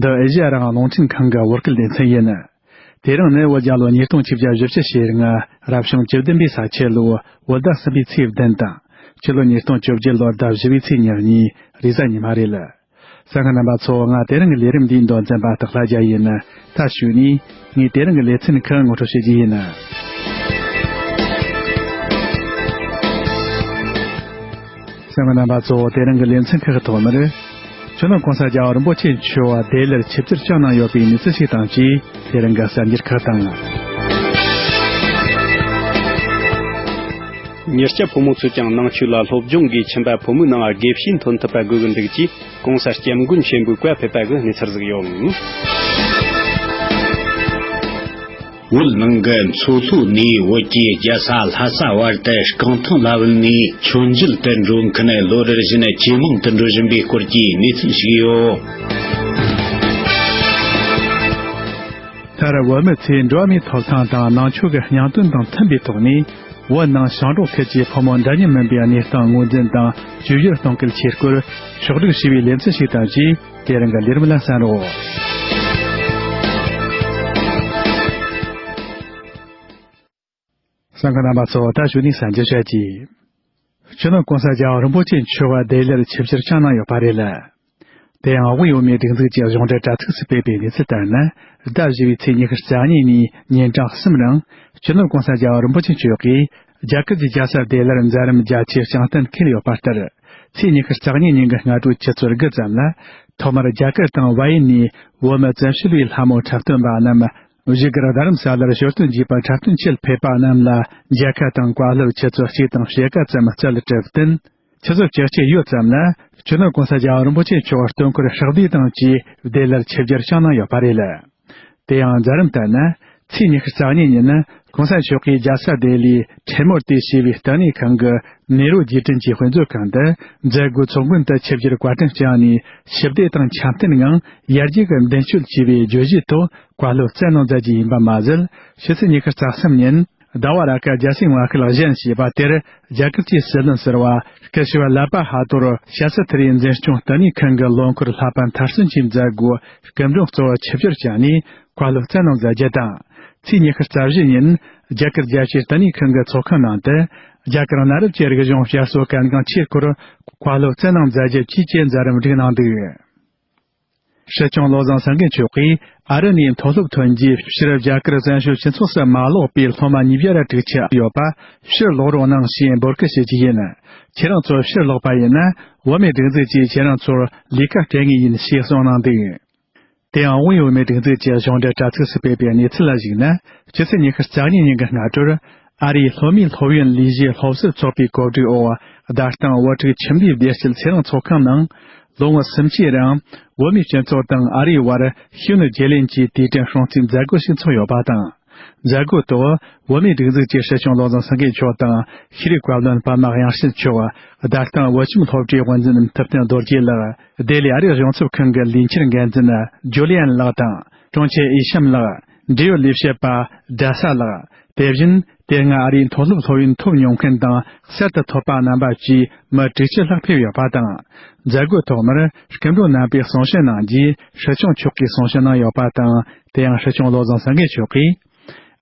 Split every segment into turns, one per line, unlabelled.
འདི་ཨེ་ཞི་ཨ་རང་རླུང་འཕྲིན་ཁང་གི་དབུ་སྐད་སྡེ་ཚན་ཡིན། དེ་རིང་ནི་བོད་རྒྱ་ལོ་ཉིས་སྟོང་བཅུ་བརྒྱད་བཞི་བཅུ་ཞེ་ལྔ་རབ་བྱུང་བཅུ་བདུན་པའི་ས་ཆའི་ལོའི་བོད་ཟླ་གསུམ་པའི་ཚེས་བདུན་དང། ཕྱི་ལོ་ཉིས་སྟོང་བཅུ་བརྒྱད་ལོར་ཟླ་བཞི་བའི་ཚེས་ཉེར་གཉིས་རེས་གཟའ་ཉི་མ་རེད་ལ། ས་ང་རྣམ་པ་ཚོ་ང་དེ་རིང་གི་ལས་རིམ་འདིའི་མདོ་འཛིན་པ་སྟག་ལྷ་རྒྱ་ཡིས་ནི་མཐར་ཞུགས་ནས་ངས་དེ་རིང་གི་ལེ་ཚན་ཁག་ངོ་སྤྲོད་བྱེད་ཀྱི་ཡིན། སེམས་ཀྱི་རྣམ་པ་གཙོ་བོ་དེ་རིང་གི་ལེ་ཚན་ཁག་གི་ཐོག་མར། ཆོས་ལུགས་གང་ས་རྒྱ་རིན་པོ་ཆེ་མཆོག་བ་དེ་ལར་ཆིབས་བསྒྱུར་བསྐྱངས་གནང་ཡོད་པའི་མི་ཚེ་ཞིག་དང་བཅས་དེ་རིང་གི་གསར་འགྱུར་ཁག་དང།
མྱུར་སྐྱབས་ཕོ་མོ་ཚོས་ཀྱང་ནང་ཆོས་ལ་སློབ་སྦྱོང་གིས་ཁྱིམ་པ་ཕོ་མོའི་ནང་དགེ་བཤེས་འཐོན་ཐུབ་པ་དགོས་ཀྱི་འདུག་ཅེས། གོང་ས་སྐྱབས་མགོན་ཆེན་པོའི་བཀའ་ཕེབས་པ་གི་གནས་ཚར་གཟིགས་ཡོད།
བོད་ནང་གི་མཚོ་ལྷོའི་གནས་བོད་ཀྱི་རྒྱལ་ས་ལྷ་ས་བར་དུ་རྐང་ཐང་ལ་བུད་ནས་མཆོད་མཇལ་དུ་འགྲོ་མཁན་ལོ་རེར་བཞིན་ཇེ་མང་དུ་འགྲོ་བཞིན་པའི་སྐོར་གྱི་གནས་ཚུལ་ཞིག་ཡོད།
མཐར་བོད་མི་ཚོས་འགྲོ་བ་མིའི་ཐོབ་ཐང་དང་ནང་ཆོས་ཀྱི་སྙིང་དོན་དང་མཐུན་པའི་ཐོག་ནས། བོད་ནང་ཞིང་འབྲོག་ཁུལ་གྱི་ཕོ་མོ་འདྲ་མཉམ་མིན་པའི་གནས་སྟངས་ངོས་འཛིན་དང་བཅོས་སྒྱུར་གཏོང་སྐུལ་བྱེད་སྐོར་ཕྱོགས་བསྒྲིགས་ཞུས་པའི་ལེ་ཚན་ཞིག་དང་བཅས་དེ་རིང་གི་ལས་རིམ་ལ་གསན་རོགས། ས་འགུལ་རྣམ་པ་ཚོ་ད་བྱུང་ནས་གསན་རྒྱུ་བྱེད་ཀྱི། ཆོས་ནང་གོང་ས་རྒྱལ་རིན་པོ་ཆེ་མཆོག་བ་དེ་ལས་ཆིབས་བཤེར་ཆགས་གནང་ཡོད་པ་རེད་ལ། དེ་ཡང་དབུས་ཡུལ་མིའི་སྒྲིག་འཛུགས་ཀྱི་གཞུང་འབྲེལ་དྲྭ་ཚིགས་སུ་སྤེལ་པའི་གནས་ཚུལ་ལྟར་ན་ཟླ་བཞི་བའི་ཚེས་ཉི་ཤུ་རྩ་གཉིས་ཉིན་ཉིན་གྲངས་གསུམ་རིང་ཆོས་ནོར་གོང་ས་རྒྱལ་རིན་པོ་ཆེ་མཆོག་གིས་རྒྱལ་ཁབ་ཀྱི་རྒྱལ་ས་བདེ་སླར་མཛད་རིམ་རྒྱ་ཆེའི་སྤྱང་གཏམ་འཁེལ་ཡོད་པ་ལྟར་ཚེས་ཉི་ཤུ་རྩ་གཉིས་ཉིན་གྱི་སྔ་དྲོའི་ཆུ་ཚོད་དགུ་ཙམ་ལ་ཐོག་མར་རྒྱ་གར་དང་བྷ་ཡི་ནས་བོད་མི་བཙན་བྱོལ་བའི་ལྷ་མོ་འཁྲབ་སྟོན་པ་རྣམས་གཞིས་སྒར་རྡ་རམ་ས་ལར་ཞོར་དུ་འཇིགས་པ་འཁྲབ་སྟོན་ཆེད་ཕེབས་པ་རྣམས་ལ་མཇལ་ཁ་དང་བཀའ་སློབ་ཆུ་ཚོད་གཅིག་དང་ཕྱེད་ཀ་ཙམ་བསྩལ་ལ་དྲི་བསྟན། ཆུ་ཚོད་བཅུ་གཅིག་ཡོལ་ཙམ་ལ་ཆོས་ནོར་གོང་ས་རྒྱལ་བ་རིན་པོ་ཆེ་མཆོག་བར་སྟོན་འཁོར་ཧྲག་བསྡུས་དང་བཅས་བདེ་སླར་ཆིབས་བསྒྱུར་བསྐྱངས་གནང་ཡོད་པ་རེད། དེ་ཡང་རྫ་རིམ་ལྟར་ན་ཚེས་ཉི་ཤུ་རྩ་གཉིས་ཉིན་གོང་ས་མཆོག་གིས་རྒྱལ་ས་ལྡི་ལིའི་བྲེ་མོར་ལྟོས་ཞེས་པའི་ལྟེ་གནས་ཁང་གི་ནེ་རོ་རྗེས་དྲན་གྱི་དཔེ་མཛོད་ཁང་དུ་མཛད་སྒོའི་ཚོགས་མགོན་དུ་ཆིབས་བསྒྱུར་བཀའ་དྲིན་བསྐྱངས་ནས་ཞི་བདེ་དང་འཆམ་མཐུན་ངང་ཡར་རྒྱས་ཀྱི་མདུན་སྐྱོད་ཅེས་པའི་བརྗོད་གཞིའི་ཐོག་བཀའ་སློབ་སྩལ་གནང་མཛད་རྒྱུ་ཡིན་པ་མ་ཟད་ཕྱི་ཚེས་ཉི་ཤུ་རྩ་གསུམ་ཉིན་ཟླ་བ་ར་ཀ་རྒྱལ་སྲིད་བྷ་ཁལ་བཞེངས་ཞེས་པ་དེར་རྒྱ་གར་གྱི་སྲིད་བློན་ཟེར་བ་སྐུ་ཞབས་ལཱ་པ་ཧ་ཏོར་ཤཱ་སི་ཐི་རིའི་འཛིན་སྐྱོང་ལྟེ་གནས་ཁང་གི་ལོ་འཁོར་ལྷག་པ་མཐར་སོན་གྱི་མཛད་སྒོའི་སྐུ་མགྲོན་གཙོ་བོར་ཆིབས་བསྒྱུར་བྱས་ནས་བཀའ་སློབ་སྩལ་གནང་མཛད་རྒྱུ་དང། ཚེས་ཉི་ཤུ་རྩ་བཞི་ཉིན་རྒྱ་གར་རྒྱལ་སྤྱིའི་བསྟི་གནས་ཁང་གི་ཚོགས་ཁང་ནང་དུ་རྒྱ་གར་གནའ་རབས་ཀྱི་རིག་གཞུང་བསྐྱར་གསོ་གལ་འགངས་ཆེ་སྐོར་བཀའ་སློབ་སྩལ་གནང་མཛད་རྒྱུ་བཅས་ཀྱི་མཛད་རིམ་བསྒྲིགས་གནང་འདུག་སྲིད་སྐྱོང་བློ་བཟང་སེང་གེ་མཆོག་གིས་ཨ་རི་ནས་མཐོ་སློབ་ཐོན་རྗེས་ཕྱིར་རྒྱ་གར་བཙན་བྱོལ་སྤྱི་ཚོགས་སུ་མ་ལོག་པའི་སློབ་མ་ཉིས་བརྒྱ་རེ་དྲུག་ཆགས་ཡོད་པ་ཕྱིར་ལོག་རོགས་གནང་ཞེས་འབོད་སྐུལ་བྱེད་ཀྱི་ཡིན། ཁྱེད་རང་ཚོ་ཕྱིར་ལོག་པ་ཡིན་ན་འོ་མའི་སྒྲིག་འཛུགས་ཀྱིས་ཁྱེད་རང་ཚོར་ལས་ཀ་སྤྲད་ངེས་ཡིན་ཞེས་གསུངས་གནང་འདུག། དེའང་དབུས་འོས་མའི་སྒྲིག་འཛུགས་ཀྱི་གཞུང་འབྲེལ་དྲ་ཚིགས་སུ་སྤེལ་པའི་གནས་ཚུལ་ལ་གཞིགས་ན་ཕྱི་ཚེས་ཉི་ཤུ་རྩ་གཉིས་ཉིན་གྱི་སྔ་དྲོར། ཨ་རིའི་ལྷོ་མིའི་སློབ་ཡོན་ལས་གཞིའི་སློབ་གསོའི་ཚོགས་པའི་གོ་སྒྲིག་འོག་བརྡ་སྟངས་དབུ་ཁྲིད་ཁྱིམ་སྡེའི་བདེ་སྐྱིད་ཚེ་རིང་ཚོགས་ཁང་ནང། ལོ་ངོ་སུམ་ཅུའི་རིང་འོས་མིའི་སྤྱི་ཚོགས་དང་ཨ་རིའི་དབར་ཤུལ་ནུས་བརྗེ་ལེན་གྱི་དུས་དྲན་སྲུང་བརྩིའི་མཛད་སྒོ་ཞིག་འཚོགས་ཡོད་པ་དང། མཛད་སྒོའི་ཐོག་འོས་མིའི་སྒྲིག་འཛུགས་ཀྱི་སྲིད་སྐྱོང་བློ་བཟང་སེང་གེ་མཆོག་དང་ཤེས་རིག་བཀའ་བློན་པདྨ་དབྱངས་བཞི་མཆོག་བདག་དང་འོས་འཚམ་སློབ་གྲྭའི་དབུ་འཛིན་ཐུབ་བསྟན་རྡོ་རྗེ་ལགས། སྡེ་ལས་ཨ་རིའི་རང་ཚབ་ཁང་གི་ལས་འཁྱུར་འགན་འཛིན་ཇོ་ལི་ཨན་ལགས་དང་དྲུང་ཆེ་ཨི་ཤམ་ལགས། འབྲེལ་ཡོད་ལས་བྱེད་པ་རྡལ་ས་ལགས། དེ་བཞིན་དེ་སྔ་ཨ་རིའི་མཐོ་སློབ་སློབ་ཡོན་ཐོབ་མྱོང་མཁན་དང་གསར་དུ་ཐོབ་པ་རྣམ་པ་བཅས་མི་དྲུག་ཕྱིར་ལྷག་ཕེབས་ཡོད་པ་དང། མཛད་སྒོའི་ཐོག་མར་སྐུ་མགྲོན་རྣམ་པས་གསུང་བཤད་གནང་རྗེས་ཧྲི་ཆང་མཆོག་གིས་གསུང་བཤད་གནང་ཡོད་པ་དང་དེ་ཡང་ཧྲི་ཆང་བློ་བཟང་སེང་གེ་མཆོག་གིས།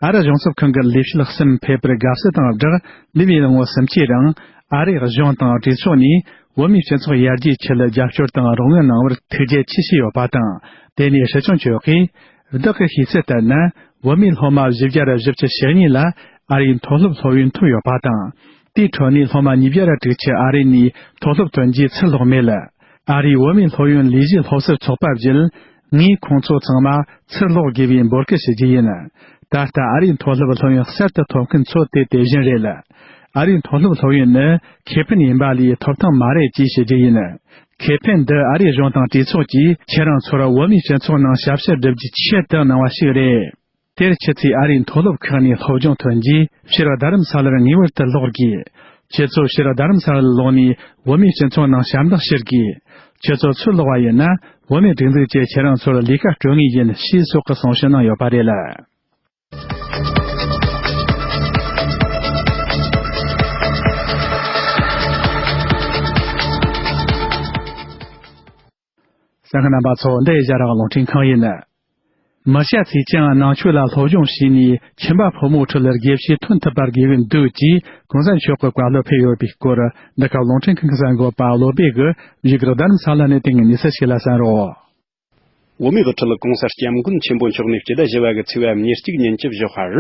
ཨ་རི་གཞུང་ཚབ་ཁང་གི་ལས་བྱེད་གསུམ་ཕེབས་པར་དགའ་བསུ་དང་སྦྲགས་ལི་བྷི་ལ་ངོ་སུམ་ཅུའི་རིང་ཨ་རིའི་གཞུང་དང་གྲོས་ཚོགས་ནས་བོད་མིའི་སྤྱི་ཚོགས་ཡར་རྒྱས་ཆེད་རྒྱབ་སྐྱོར་དང་རོགས་དངུལ་གནང་བར་ཐུགས་རྗེ་ཆེ་ཞུས་ཡོད་པ་དང་དེ་ནས་ཧྲི་ཆོན་ཆོས་ཀྱིས། བདག་གི་ཤེས་ཚད་ལྟར་ན་བོད་མིའི་སློབ་མ་བཞི་བརྒྱ་རེ་བཞི་བཅུ་ཞེ་གཉིས་ལ་ཨ་རིའི་མཐོ་སློབ་སློབ་ཡོན་ཐོབ་ཡོད་པ་དང། དེའི་ཁྲོད་ནས་སློབ་མ་ཉིས་བརྒྱ་རེ་དྲུག་ཅུ་ཨ་རི་ནས་མཐོ་སློབ་ཏུ་འཇུག་འཚར་ལོག་མེད། ཨ་རིའི་བོད་མིའི་སློབ་ཡོན་ལས་གཞི་སློབ་གསོའི་ཚོགས་པ་བརྒྱུད་ངས་ཁོང་ཚོ་ཚང་མ་ཕྱིར་སློག་དགོས་པའི་འབོད་སྐུལ་ཞུ་རྒྱུ་ཡིན། ད་ལྟ་ཨ་རིའི་མཐོ་སློབ་སློབ་ཡོན་གསར་དུ་ཐོབ་མཁན་ཚོ་དེ་དེ་བཞིན་རེད། ཨ་རིའི་མཐོ་སློབ་སློབ་ཡོན་ནི་ཁེ་ཕན་ཡིན་པ་ལས་ཐོབ་ཐང་མ་རེད་ཅེས་ཞུ་རྒྱུ་ཡིན། ཁེ་ཕན་འདི་ཨ་རིའི་གཞུང་དང་གྲོས་ཚོགས་ཀྱིས་ཁྱེད་རང་ཚོར་བོད་མིའི་སྤྱི་ཚོགས་ནང་ཞབས་ཕྱི་སྒྲུབ་རྒྱུའི་ཆེད་དུ་གནང་བ་ཞིག་རེད། དེར་ཕྱི་ཚེས་ཨ་རིའི་མཐོ་སློབ་ཁག་ནས་སློབ་སྦྱོང་ཐོན་རྗེས་ཕྱིར་རྡ་རམ་ས་ལར་ངེས་པར་དུ་ལོག་དགོས། ཁྱེད་ཚོ་ཕྱིར་རྡ་རམ་ས་ལར་ལོག་ནས་བོད་མིའི་སྤྱི་ཚོགས་ནང་ཞབས་འདེགས་ཞུ་དགོས། ཁྱེད་ཚོ་ཚུར་ལོག་པ་ཡིན་ན་བོད་མིའི་སྒྲིག་འཛུགས་བཅས་ཁྱེད་རང་ཚོར་ལས་ཀ་སྤྲོད་ངེས་ཡིན་ཞེས་སོགས་ཀྱི་གསུང་བཤད་གནང་ཡོད་པ་རེད་ལ། ཟངས་རྣམ་པ་ཚོ་འདི་བཞག་རང་རླུང་འཕྲིན་གང་ཡིན་ནི། མི་བཤད་ཚིག་ཅི་འང་ནང་ཆོས་ལ་སློབ་སྦྱོང་བྱས་ནས་ཁྱིམ་པ་ཕོ་མོའི་ཁྲི་ལ་དགེ་བཤེས་ཐོན་ཐུབ་པར་དགེ་བས་འདུད་ཅེས་གོང་ས་མཆོག་གི་བཀའ་སློབ་ཕེབས་ཡོད་པའི་སྐོར་འདི་ག་རླུང་འཕྲིན་གི་གསར་འགོད་པ་བློ་སྦེ་གི་ཡི་གེར་བདག་རིམ་ས་ལ་ནས་དེ་སྔའི་གནས་ཚུལ་ཞིག་ལ་བསམ་རོགས། འོ་མའི་དབུ་ཁྲིད་ལ་གོང་ས་སྐྱབས་མགོན་ཆེན་པོ་མཆོག་ནས་སྤྱི་ཟླ་བཞི་བ་གི་ཚེས་བབ་ཉེར་གཅིག་ཉིན་སྐྱིབས་
བཞུགས་ཧར་